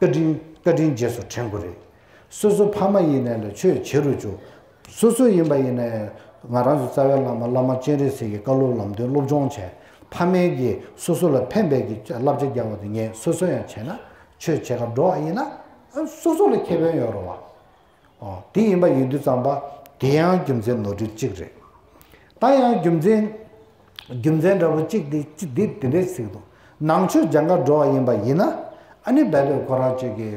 བཀའ་དྲིན་བཀའ་དྲིན་རྗེས་སུ་དྲན་དགོས་རེད། སོ་སོ་ཕ་མ་ཡིན་ནས་ལ་ཆོས་བྱེད་རུ་ཆུག། སོ་སོ་ཡིན་པ་ཡིན་ནས། ང་རང་ཚོ་རྩ་བའི་བླ་མ་བླ་མ་སྤྱན་རས་གཟིགས་ཀྱི་བཀའ་སློབ་ལམ་སྟོན་སློབ་སྦྱོང་བྱས། ཕ་མའི་གིས་སོ་སོ་ལ་ཕན་འབད་ཀྱིས་བསླབ་བྱ་རྒྱག་པ་དེ་ངས་སོ་སོ་ཡང་བྱས་ན། ཆོས་བྱེད་ཁར་འགྲོ་བ་ཡིན་ན། སོ་སོ་ལ་ཁེ་ཕན་ཡོད་རུང་བ། དེ་ཡིན་པ་ཡིན་དུས་བརྩམས་པ་དེ་ཡང་རྒྱུ་མཚན་ནོར་འཁྲུལ་གཅིག་རེད། ད་ཡང་རྒྱུ་མཚན། རྒྱུ་མཚན་འདྲ་བོ་གཅིག་དེ་ཅི་འདི་འདི་འདྲའི་ཚིག་དོ། ནང་ཆོས་སྦྱང་དགའ་འགྲོ་བ་ཡིན་པ་ཡིན་ན། ཨ་ནི་བལ་བོད་ཁོ་རང་གཅིག་གི།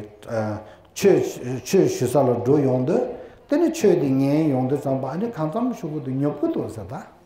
ཆོས་ཞུ་ས་ལ་འགྲོ་ཡོང་དུས། དེ་ནི་ཆོས་དེ་ངའི་ཡོང་དུས་བརྩམས་པ་ཨ་ནི་གང་བརྩམས་ཤོག་གུ་དེ་ཉོབ་གི་འདུག་ཟེར་ད།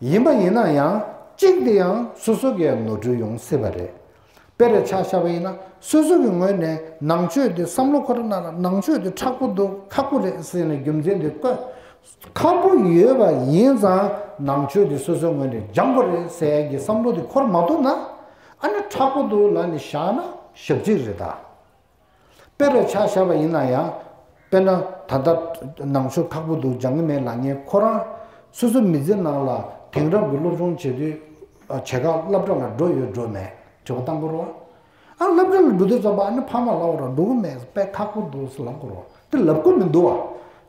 ཡིན་པ་ཡིན་ན་ཡང་གཅིག་དེ་ཡང་སོ་སོ་གས་ནོར་འཁྲུལ་ཡོང་སྲིད་པ་རེད། དཔེར་ཆགས་ཤར་བ་ཡིན་ན་སོ་སོ་གི་ངོས་ནས་ནང་ཆོས་དེ་བསམ་བློ་འཁོར་ན་ནང་ཆོས་དེ་ཁྲག་པོ་འདུག་ཁག་པོ་རེད་ཟེར་ནས་རྒྱུ་མཚན་དེ་བཀོད། ཁག་པོ་ཡོད་པ་ཡིན་ཙང་ནང་ཆོས་དེ་སོ་སོའི་ངོས་ནས་སྦྱང་པོ་རེད་ཟེར་གྱི་བསམ་བློ་དེ་འཁོར་མ་ཐུབ་ན། ཨ་ནི་ཁྲག་པོ་འདུག་ལ་ནི་བཞག་ན་ཞབས་ཅིག་རེད་ད། དཔེ་རུ་ཆགས་བཞག་པ་ཡིན་ན་ཡང། དཔེར་ན། ད་ལྟ། ནང་ཆོས་ཁག་པོ་འདུག་སྦྱང་གི་མེད་ལགས་ངས་ཁོ་རང། སོ་སོ་མི་ཚེ་ནང་ལ་དེང་རབས་ཀྱི་སློབ་སྦྱོང་བྱེད་དུས། བྱེད་ཁག་སླབ་གྲྭ་ལ་འགྲོ་ཡོད་འགྲོ་མེད་དྲི་བ་བཏང་སྐོར་བ། ཨ་སླབ་གྲྭ་ལ་འགྲོ་དུས་རྩོམ་པ་ཨ་ནི་ཕ་མ་ལ་བོར་འགྲོ་གི་མེད་པས་ཁག་པོ་འདུག་ལབ་སྐོར་བ། འདི་ལབ་སྐོར་མི་འདུག་བ།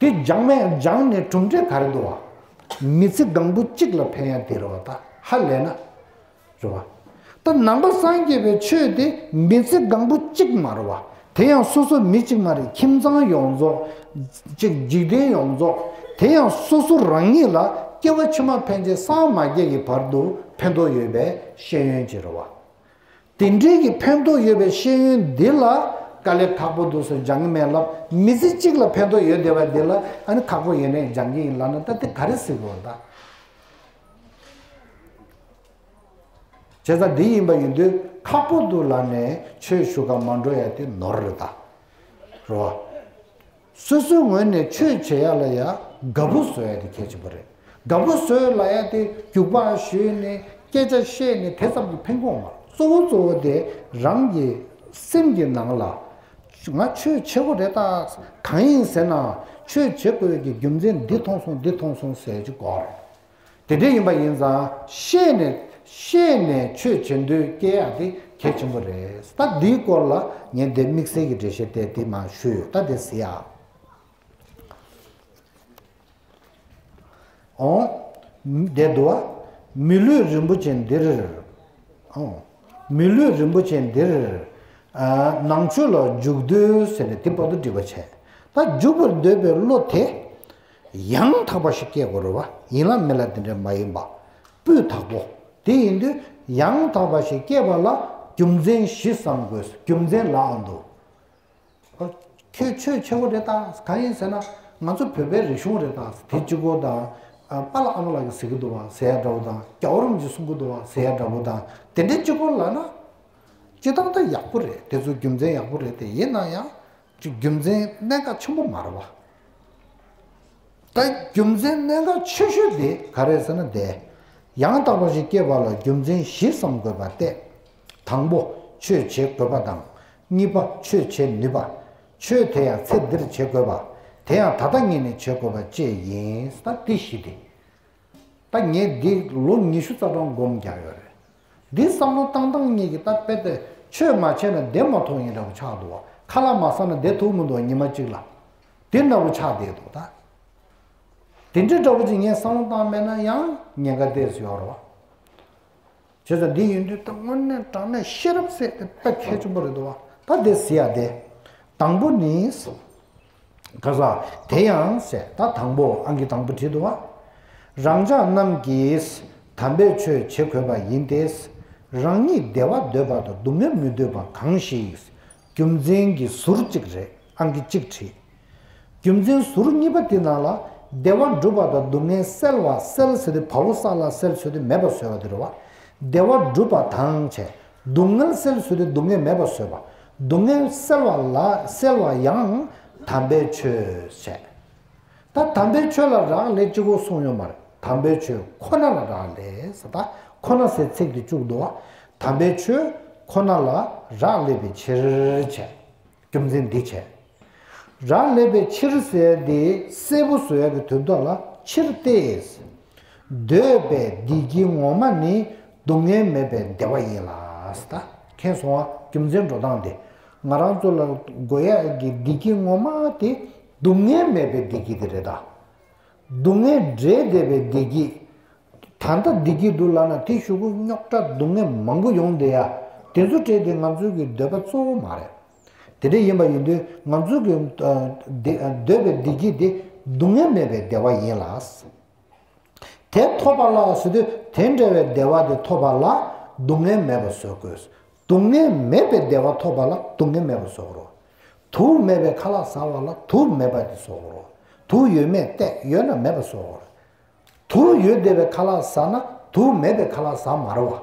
དེ་སྦྱངས་མས་སྦྱངས་ནས་གྲུབ་འབྲས་ག་རེ་འདུག་བ། མི་ཚེ་གང་པོ་གཅིག་ལ་ཕན་ཡང་དེ་རེ་བ་ད་ཧ་ལས་ན། རེ་བ། ད་ནང་པ་སངས་རྒྱས་པའི་ཆོས་དེ་མི་ཚེ་གང་པོ་གཅིག་མ་རེ་བ། དེ་ཡང་སོ་སོ་མི་གཅིག་མ་རེ་ཁྱིམ་ཚང་ཡོངས་རྫོགས། ཅིག་འཇིག་རྟེན་ཡོངས་རྫོགས། དེ་ཡང་སོ་སོ་རང་ཉིད་ལ་སྐྱེ་བ་ཕྱི་མ་ཕན་ཆད་སངས་མ་རྒྱས་ཀྱི་བར་དུ་ཕན་ཐོགས་ཡོད་པའི་ཤེས་ཡོན་གྱི་རེ་བ། དེ་འབྲེལ་གྱི་ཕན་ཐོགས་ཡོད་པའི་ཤེས་ཡོན་འདི་ལ་དཀའ་ལས་ཁག་པོ་འདུག་སོ་སྦྱང་གི་མེད་ལབ་མི་ཚེ་གཅིག་ལ་ཕན་ཐོགས་ཡོད་བསྡད་པ་འདི་ལ་ཨ་ནི་ཁག་པོ་ཡེ་ནས་སྦྱང་གི་ཡིན་ལབ་ན་ད་དེ་ག་རེ་སྲིད་དགོས་ད། བྱས་ཙང་འདི་ཡིན་པ་ཡིན་དུས་ཁག་པོ་འདུག་ལབ་ནས་ཆོས་ཞུ་ག་མ་འགྲོ་ཡ་དེ་ནོར་རེད་ད་རོ། སོ་སོའི་ངོས་ནས་ཆོས་བྱེད་ཡག་ལ་ཡག་དགའ་པོ་བཟོ་ཡག་དེ་གལ་ཆེན་པོ་རེད་དགའ་པོ་བཟོ་ཡག་ལ་ཡག་དེ་རྒྱུགས་པ་ཞུས་ནས་སྐད་ཆ་བཤད་ནས་དེ་ཙམ་གྱི་ཕན་གོང་མ་གཙོ་བོ་གཙོ་བོ་དེ་རང་གི་སེམས་ཀྱི་ནང་ལ་ང་ཆོས་བྱེད་དགོས་རེད་ད་གང་ཡིན་ཟེར་ན་ཆོས་བྱེད་དགོས་ཀྱི་རྒྱུ་མཚན་འདི་མཐོང་སོང་འདི་མཐོང་སོང་ཟེར་གྱི་དགོས་རེད། དེ་འདྲའི་ཡིན་པ་ཡིན་ཙང་ཤེས་ནས་ཤེས་ནས་ཆོས་བྱེད་འདོད་སྐྱེ་ཡག་དེ་གལ་ཆེན་པོ་རེད་ད་འདིའི་སྐོར་ལ་ངས་འདིར་དམིགས་བསལ་གྱི་འགྲེལ་བཤད་གཏད་དེ་མ་ཞུས་ཡོད་ད་དེ་ཟེར་ཡག་འོང། འདས་དུ་བ། མི་ལུས་རིན་པོ་ཆེ་འདིར། འོང། མི་ལུས་རིན་པོ་ཆེ་འདིར། ནང་ཆོས་ལ་འཇུག་འདོད་ཟེར་ནས་དེ་བར་དུ་འདྲི་བར་བྱས། ད་འཇུག་པར་འདོད་པའི་བློ་དེ། ཡང་དག་པ་ཞིག་སྐྱེས་དགོས་རུང་བ་ཡིན་ལ་མེད་ལ་དེ་འདྲ་མ་ཡིན་པ། སྤུས་དག་པོ། དེ་ཡིན་དུས་ཡང་དག་པ་ཞིག་སྐྱེས་པ་ལ་རྒྱུ་མཚན་བཞི་བསམ་དགོས་རྒྱུ་མཚན་ལའང་འདུག། ཨོ། ཁྱོད་ཆོས་ཆེ་བོ་རེད་ད། གང་ཡིན་ཟེར་ན། ང་ཚོ་བོད་པའི་རིག་གཞུང་རེད་ད། དེ་གཅིག་པོ་དང། པཱ་ལགས་ཨ་མ་ལགས་ཀྱིས་ཟེར་གྱི་འདུག་བ་ཟེར་ཡ་འདྲ་བོ་དང། རྒྱ་བོ་རུམ་གྱིས་གསུང་གི་འདུག་བ་ཟེར་ཡ་འདྲ་བོ་དང། དེ་འདྲའི་གཅིག་པོ་ལ་ན། སྤྱིར་བཏང་ད་ཡག་པོ་རེད་དེ་ཚོ་རྒྱུ་མཚན་ཡག་པོ་རེད་དེ་ཡིན་ན་ཡང། གཅིག་རྒྱུ་མཚན་གནད་འགག་ཆེན་པོ་མ་རེད་བ། ད་རྒྱུ་མཚན་གནད་འགག་ཆེ་ཤོས་དེ་ག་རེད་ཟེར་ན་དེ། ཡང་དག་པ་ཞིག་སྐྱེས་པ་ལ་རྒྱུ་མཚན་བཞི་བསམ་དགོས་པ་སྟེ། དང་པོ་ཆོས་བྱེད་དགོས་པ་དང། གཉིས་པ་ཆོས་བྱེད་ནུས་པ། ཆོས་དེ་ཡང་ཚེ་འདིར་བྱེད་དགོས་པ། དེ་ཡང་ད་ལྟ་ངེད་ནས་བྱེད་དགོས་པ་བཅས་ཡིན། ད་དེ་བཞི་དེ། ད་ངས་འདི་ལོ་ཉི་ཤུ་རྩ་གྲངས་སྒོམ་རྒྱག་ཡོད་རེད། འདི་བསམ་བློ་བཏང་བཏང་གཉིད་ཀྱི་སྟབས་དཔེ་སྟེ་ཆོས་མ་བྱས་ན་བདེ་མ་ཐོག་ཡིན་ར་བུ་ཆགས་འདུག་ཁ་ལག་མ་བསགས་ན་བདེ་ཐུག་མི་འདུག་ཉི་མ་གཅིག་ལ་དེ་འདྲ་བུ་ཆགས་བསྡད་འདུག་ད་དེ་འདྲ་འདྲ་བུ་ཅིག་ངས་བསམ་བློ་བཏང་མེད་ན་ཡང་ཉེན་ཁ་བསྡད་ཟོས་ར་བ་བྱས་ཙང་འདི་ཡིན་དུས་ད་དངོས་གནས་དྲང་གནས་ཤེས་རབ་བསྲེས་ཏེ་ཕེབས་མཁས་ཆེན་པོ་རེད་འདུག་ད་དེ་ཟེར་ཡ་བདེ་དང་པོ་ནི། ག་ས་དེ་ཡང་གསལ་ད་དང་པོ་ཨང་ཀི་དང་པོ་བྲིས་འདུག་བ། རང་ཅག་རྣམས་ཀྱིས་དམ་པའི་ཆོས་བྱེད་དགོས་པ་ཡིན་ཏེ། རང་ཉིད་བདེ་བ་འདོད་པ་དང་སྡུག་བསྔལ་མི་འདོད་པ་གང་ཞིག། རྒྱུ་མཚན་གྱི་ཟུར་གཅིག་རེད་ཨང་ཀི་གཅིག་བྲིས། རྒྱུ་མཚན་ཟུར་གཉིས་པ་དེ་ནང་ལ་བདེ་བ་འགྲུབ་པ་དང་སྡུག་བསྔལ་སེལ་བ་སེལ་ཟེར་ཏེ་བ་བོ་ས་ལ་སེལ་ཟེར་ཏེ་མེད་པ་བཟོས་བ་དེ་རེད་བ། བདེ་བ་འགྲུབ་པ་དང། སྡུག་བསྔལ་སེལ་ཟེར་ཏེ་སྡུག་བསྔལ་མེད་པ་བཟོས་བ། སྡུག་བསྔལ་སེལ་བ་ལ་སེལ་བ་ཡང་དམ་པའི་ཆོས་བྱས། ད་དམ་པའི་ཆོས་ལ་རག་ལས་ཅི་གོ་གསུངས་ཡོད་མར་དམ་པའི་ཆོས་ཁོ་ན་ལ་རག་ལས་ད་ཁོ་ན་སའི་ཚིག་དེ་བཅུག་འདུག་དམ་པའི་ཆོས་ཁོ་ན་ལ་རག་ལས་པའི་ཕྱིར་བྱས། རྒྱུ་མཚན་འདི་བྱས། རག་ལས་པའི་ཕྱིར་ཟེར་དེ་སེར་པོ་ཟོས་ཀྱི་དུས་འདོད་ལ་ཕྱིར་ཏེ། འདོད་པའི་བདེ་སྐྱིད་ངོ་མ་ནི་སྡུག་བསྔལ་མེད་པའི་བདེ་བ་ཡིན་ལ། མཁྱེན་གསུང་བ་རྒྱུ་མཚན་འགྲོ་སྟངས་འདི། ང་རང་ཚོ་ལ་དགོས་ཡ་གི་བདེ་སྐྱིད་ངོ་མ་དེ་སྡུག་བསྔལ་མེད་པའི་བདེ་སྐྱིད་དེ་རེད་ད། སྡུག་བསྔལ་འབྲས་བདེ་བའི་བདེ་སྐྱིད། ད་ལྟ་བདེ་སྐྱིད་འདུག་ལབ་ན་དེ་ཞུ་གུ་རྙོག་དྲ་སྡུག་བསྔལ་མང་པོ་ཡོང་བསྡད་ཡ། དེ་ཚོ་བྲལ་དེ་ང་ཚོའི་གི་འདོད་པ་གཙོ་བོ་མ་རེད། དེ་འདྲ་ཡིན་པ་ཡིན་དུས་ང་ཚོས་ཀྱི་འདོད་པའི་བདེ་སྐྱིད་དེ་སྡུག་བསྔལ་མེད་པའི་བདེ་བ་ཡིན་ལ། དེ་ཐོབ་པ་ལ་བཟོད་དུས་དེ་འདྲ་བའི་བདེ་བ་དེ་ཐོབ་པ་ལ་སྡུག་བསྔལ་མེད་པ་བཟོད་དགོས། སྡུག་བསྔལ་མེད་པའི་བདེ་བ་ཐོབ་པ་ལ་སྡུག་བསྔལ་མེད་པ་བཟོད་དགོས་རོགས། དུག་མེད་པའི་ཁ་ལག་ཟ་བ་ལ་དུག་མེད་པ་དེ་བཟོད་དགོས་རོགས། དུག་ཡོད་མེད་བལྟས་ཡོད་ན་མེད་པ་བཟོད་དགོས་རོགས། དུག་ཡོད་བདེ་བའི་ཁ་ལག་ཟ་ན་དུག་མེད་པའི་ཁ་ལག་ཟ་མ་རོགས།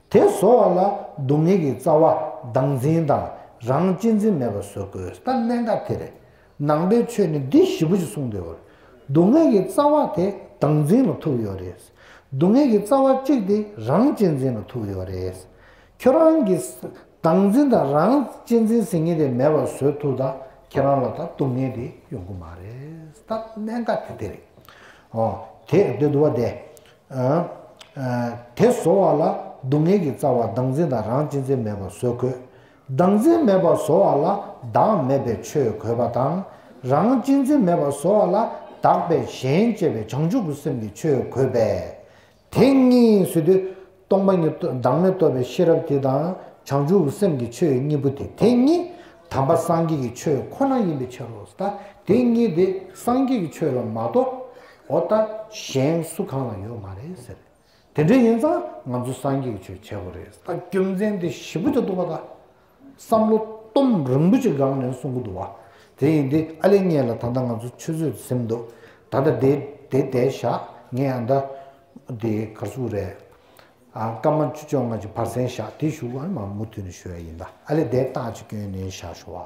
དེ་བཟོ་བ་ལ་སྡུག་བསྔལ་གྱི་རྩ་བ་བདག་འཛིན་དང་རང་གཅེས་འཛིན་མེད་པ་བཟོ་དགོས་ད་གནད་འགག་དེ་རེད། ནང་པའི་ཆོས་ནི་འདི་བཞི་པོ་ཅིག་གསུངས་དེ་འོ། སྡུག་བསྔལ་གྱི་རྩ་བ་དེ་བདག་འཛིན་ལ་ཐུག་ཡོད་རེད། སྡུག་བསྔལ་གྱི་རྩ་བ་གཅིག་དེ་རང་གཅེས་འཛིན་ལ་ཐུག་ཡོད་རེད། ཁྱོད་རང་གིས་བདག་འཛིན་དང་རང་གཅེས་འཛིན་ཟེར་མཁན་དེ་མེད་པ་བཟོས་ཐུག་ད་ཁྱེད་རང་ལ་ད་སྡུག་བསྔལ་དེ་ཡོང་གི་མ་རེད་ད་གནད་འགག་དེ་དེ་རེད། འོ་དེས་འདི་བསྡུ་བ་བདེ། དེ་བཟོ་བ་ལ་སྡུག་བསྔལ་གྱི་རྩ་བ་བདག་འཛིན་དང་རང་གཅེས་འཛིན་མེད་པར་བཟོ་དགོས། བདག་འཛིན་མེད་པར་བཟོ་བ་ལ་བདག་མེད་པའི་ཆོས་གོས་པ་དང། རང་གཅེས་འཛིན་མེད་པར་བཟོ་བ་ལ་བདག་པས་གཞན་གཅེས་པའི་བྱང་ཆུབ་ཀྱི་སེམས་ཀྱི་ཆོས་གོས་པས། དེ་གཉིས་སུ་དེ་སྟོང་པ་ཉིད་བདག་མེད་རྟོགས་པའི་ཤེས་རབ་དེ་དང་བྱང་ཆུབ་ཀྱི་སེམས་ཀྱི་ཆོས་གཉིས་པོ་དེ་དེ་གཉིས་དམ་པ་སངས་རྒྱས་ཀྱི་ཆོས་ཁོ་ན་ཡིན་པའི་ཕྱིར་རོ། དེ་གཉིས་དེ་སངས་རྒྱས་ཀྱི་ཆོས་ལ་མ་གཏོགས་འོ་ད་གཞན་སུ་གང་ལ་ཡོད་མ་རེད་ཟེར། དེ་འདྲ་ཡིན་ཙང་ང་ཚོ་སངས་རྒྱས་ཀྱི་ཆོས་བྱེད་དགོས་རེད། ད་རྒྱུ་མཚན་དེ་ཞིབ་པོ་བྱ་འདུག་པ་ད་བསམ་བློ་གཏོང་རིང་པོ་ཅིག་སྒང་ནས་གསུང་གི་འདུག་བ། དེ་ཡིན་དེ་ཨ་ལེ་ངེད་ལ་ད་ལྟ་ང་ཚོ་ཆུད་ཟོས་སེམས་འདུག་ད་ལྟ་དེ་དེ་བསྡད་བཞག་ངས་ཨ་མདའ་དེ་གར་སུ་རེད། སྐར་མ་བཅུ་བཅོ་ལྔ་ཅིག་བར་གསན་བཞག་དེ་ཞུ་བར་མ་མུ་མཐུད་ནས་ཞུ་ཡ་ཡིན་ད་ཨ་ལེ་བསྡད་སྟག་ཅིག་གྱོན་ནས་བཞག་ཞུ་བ།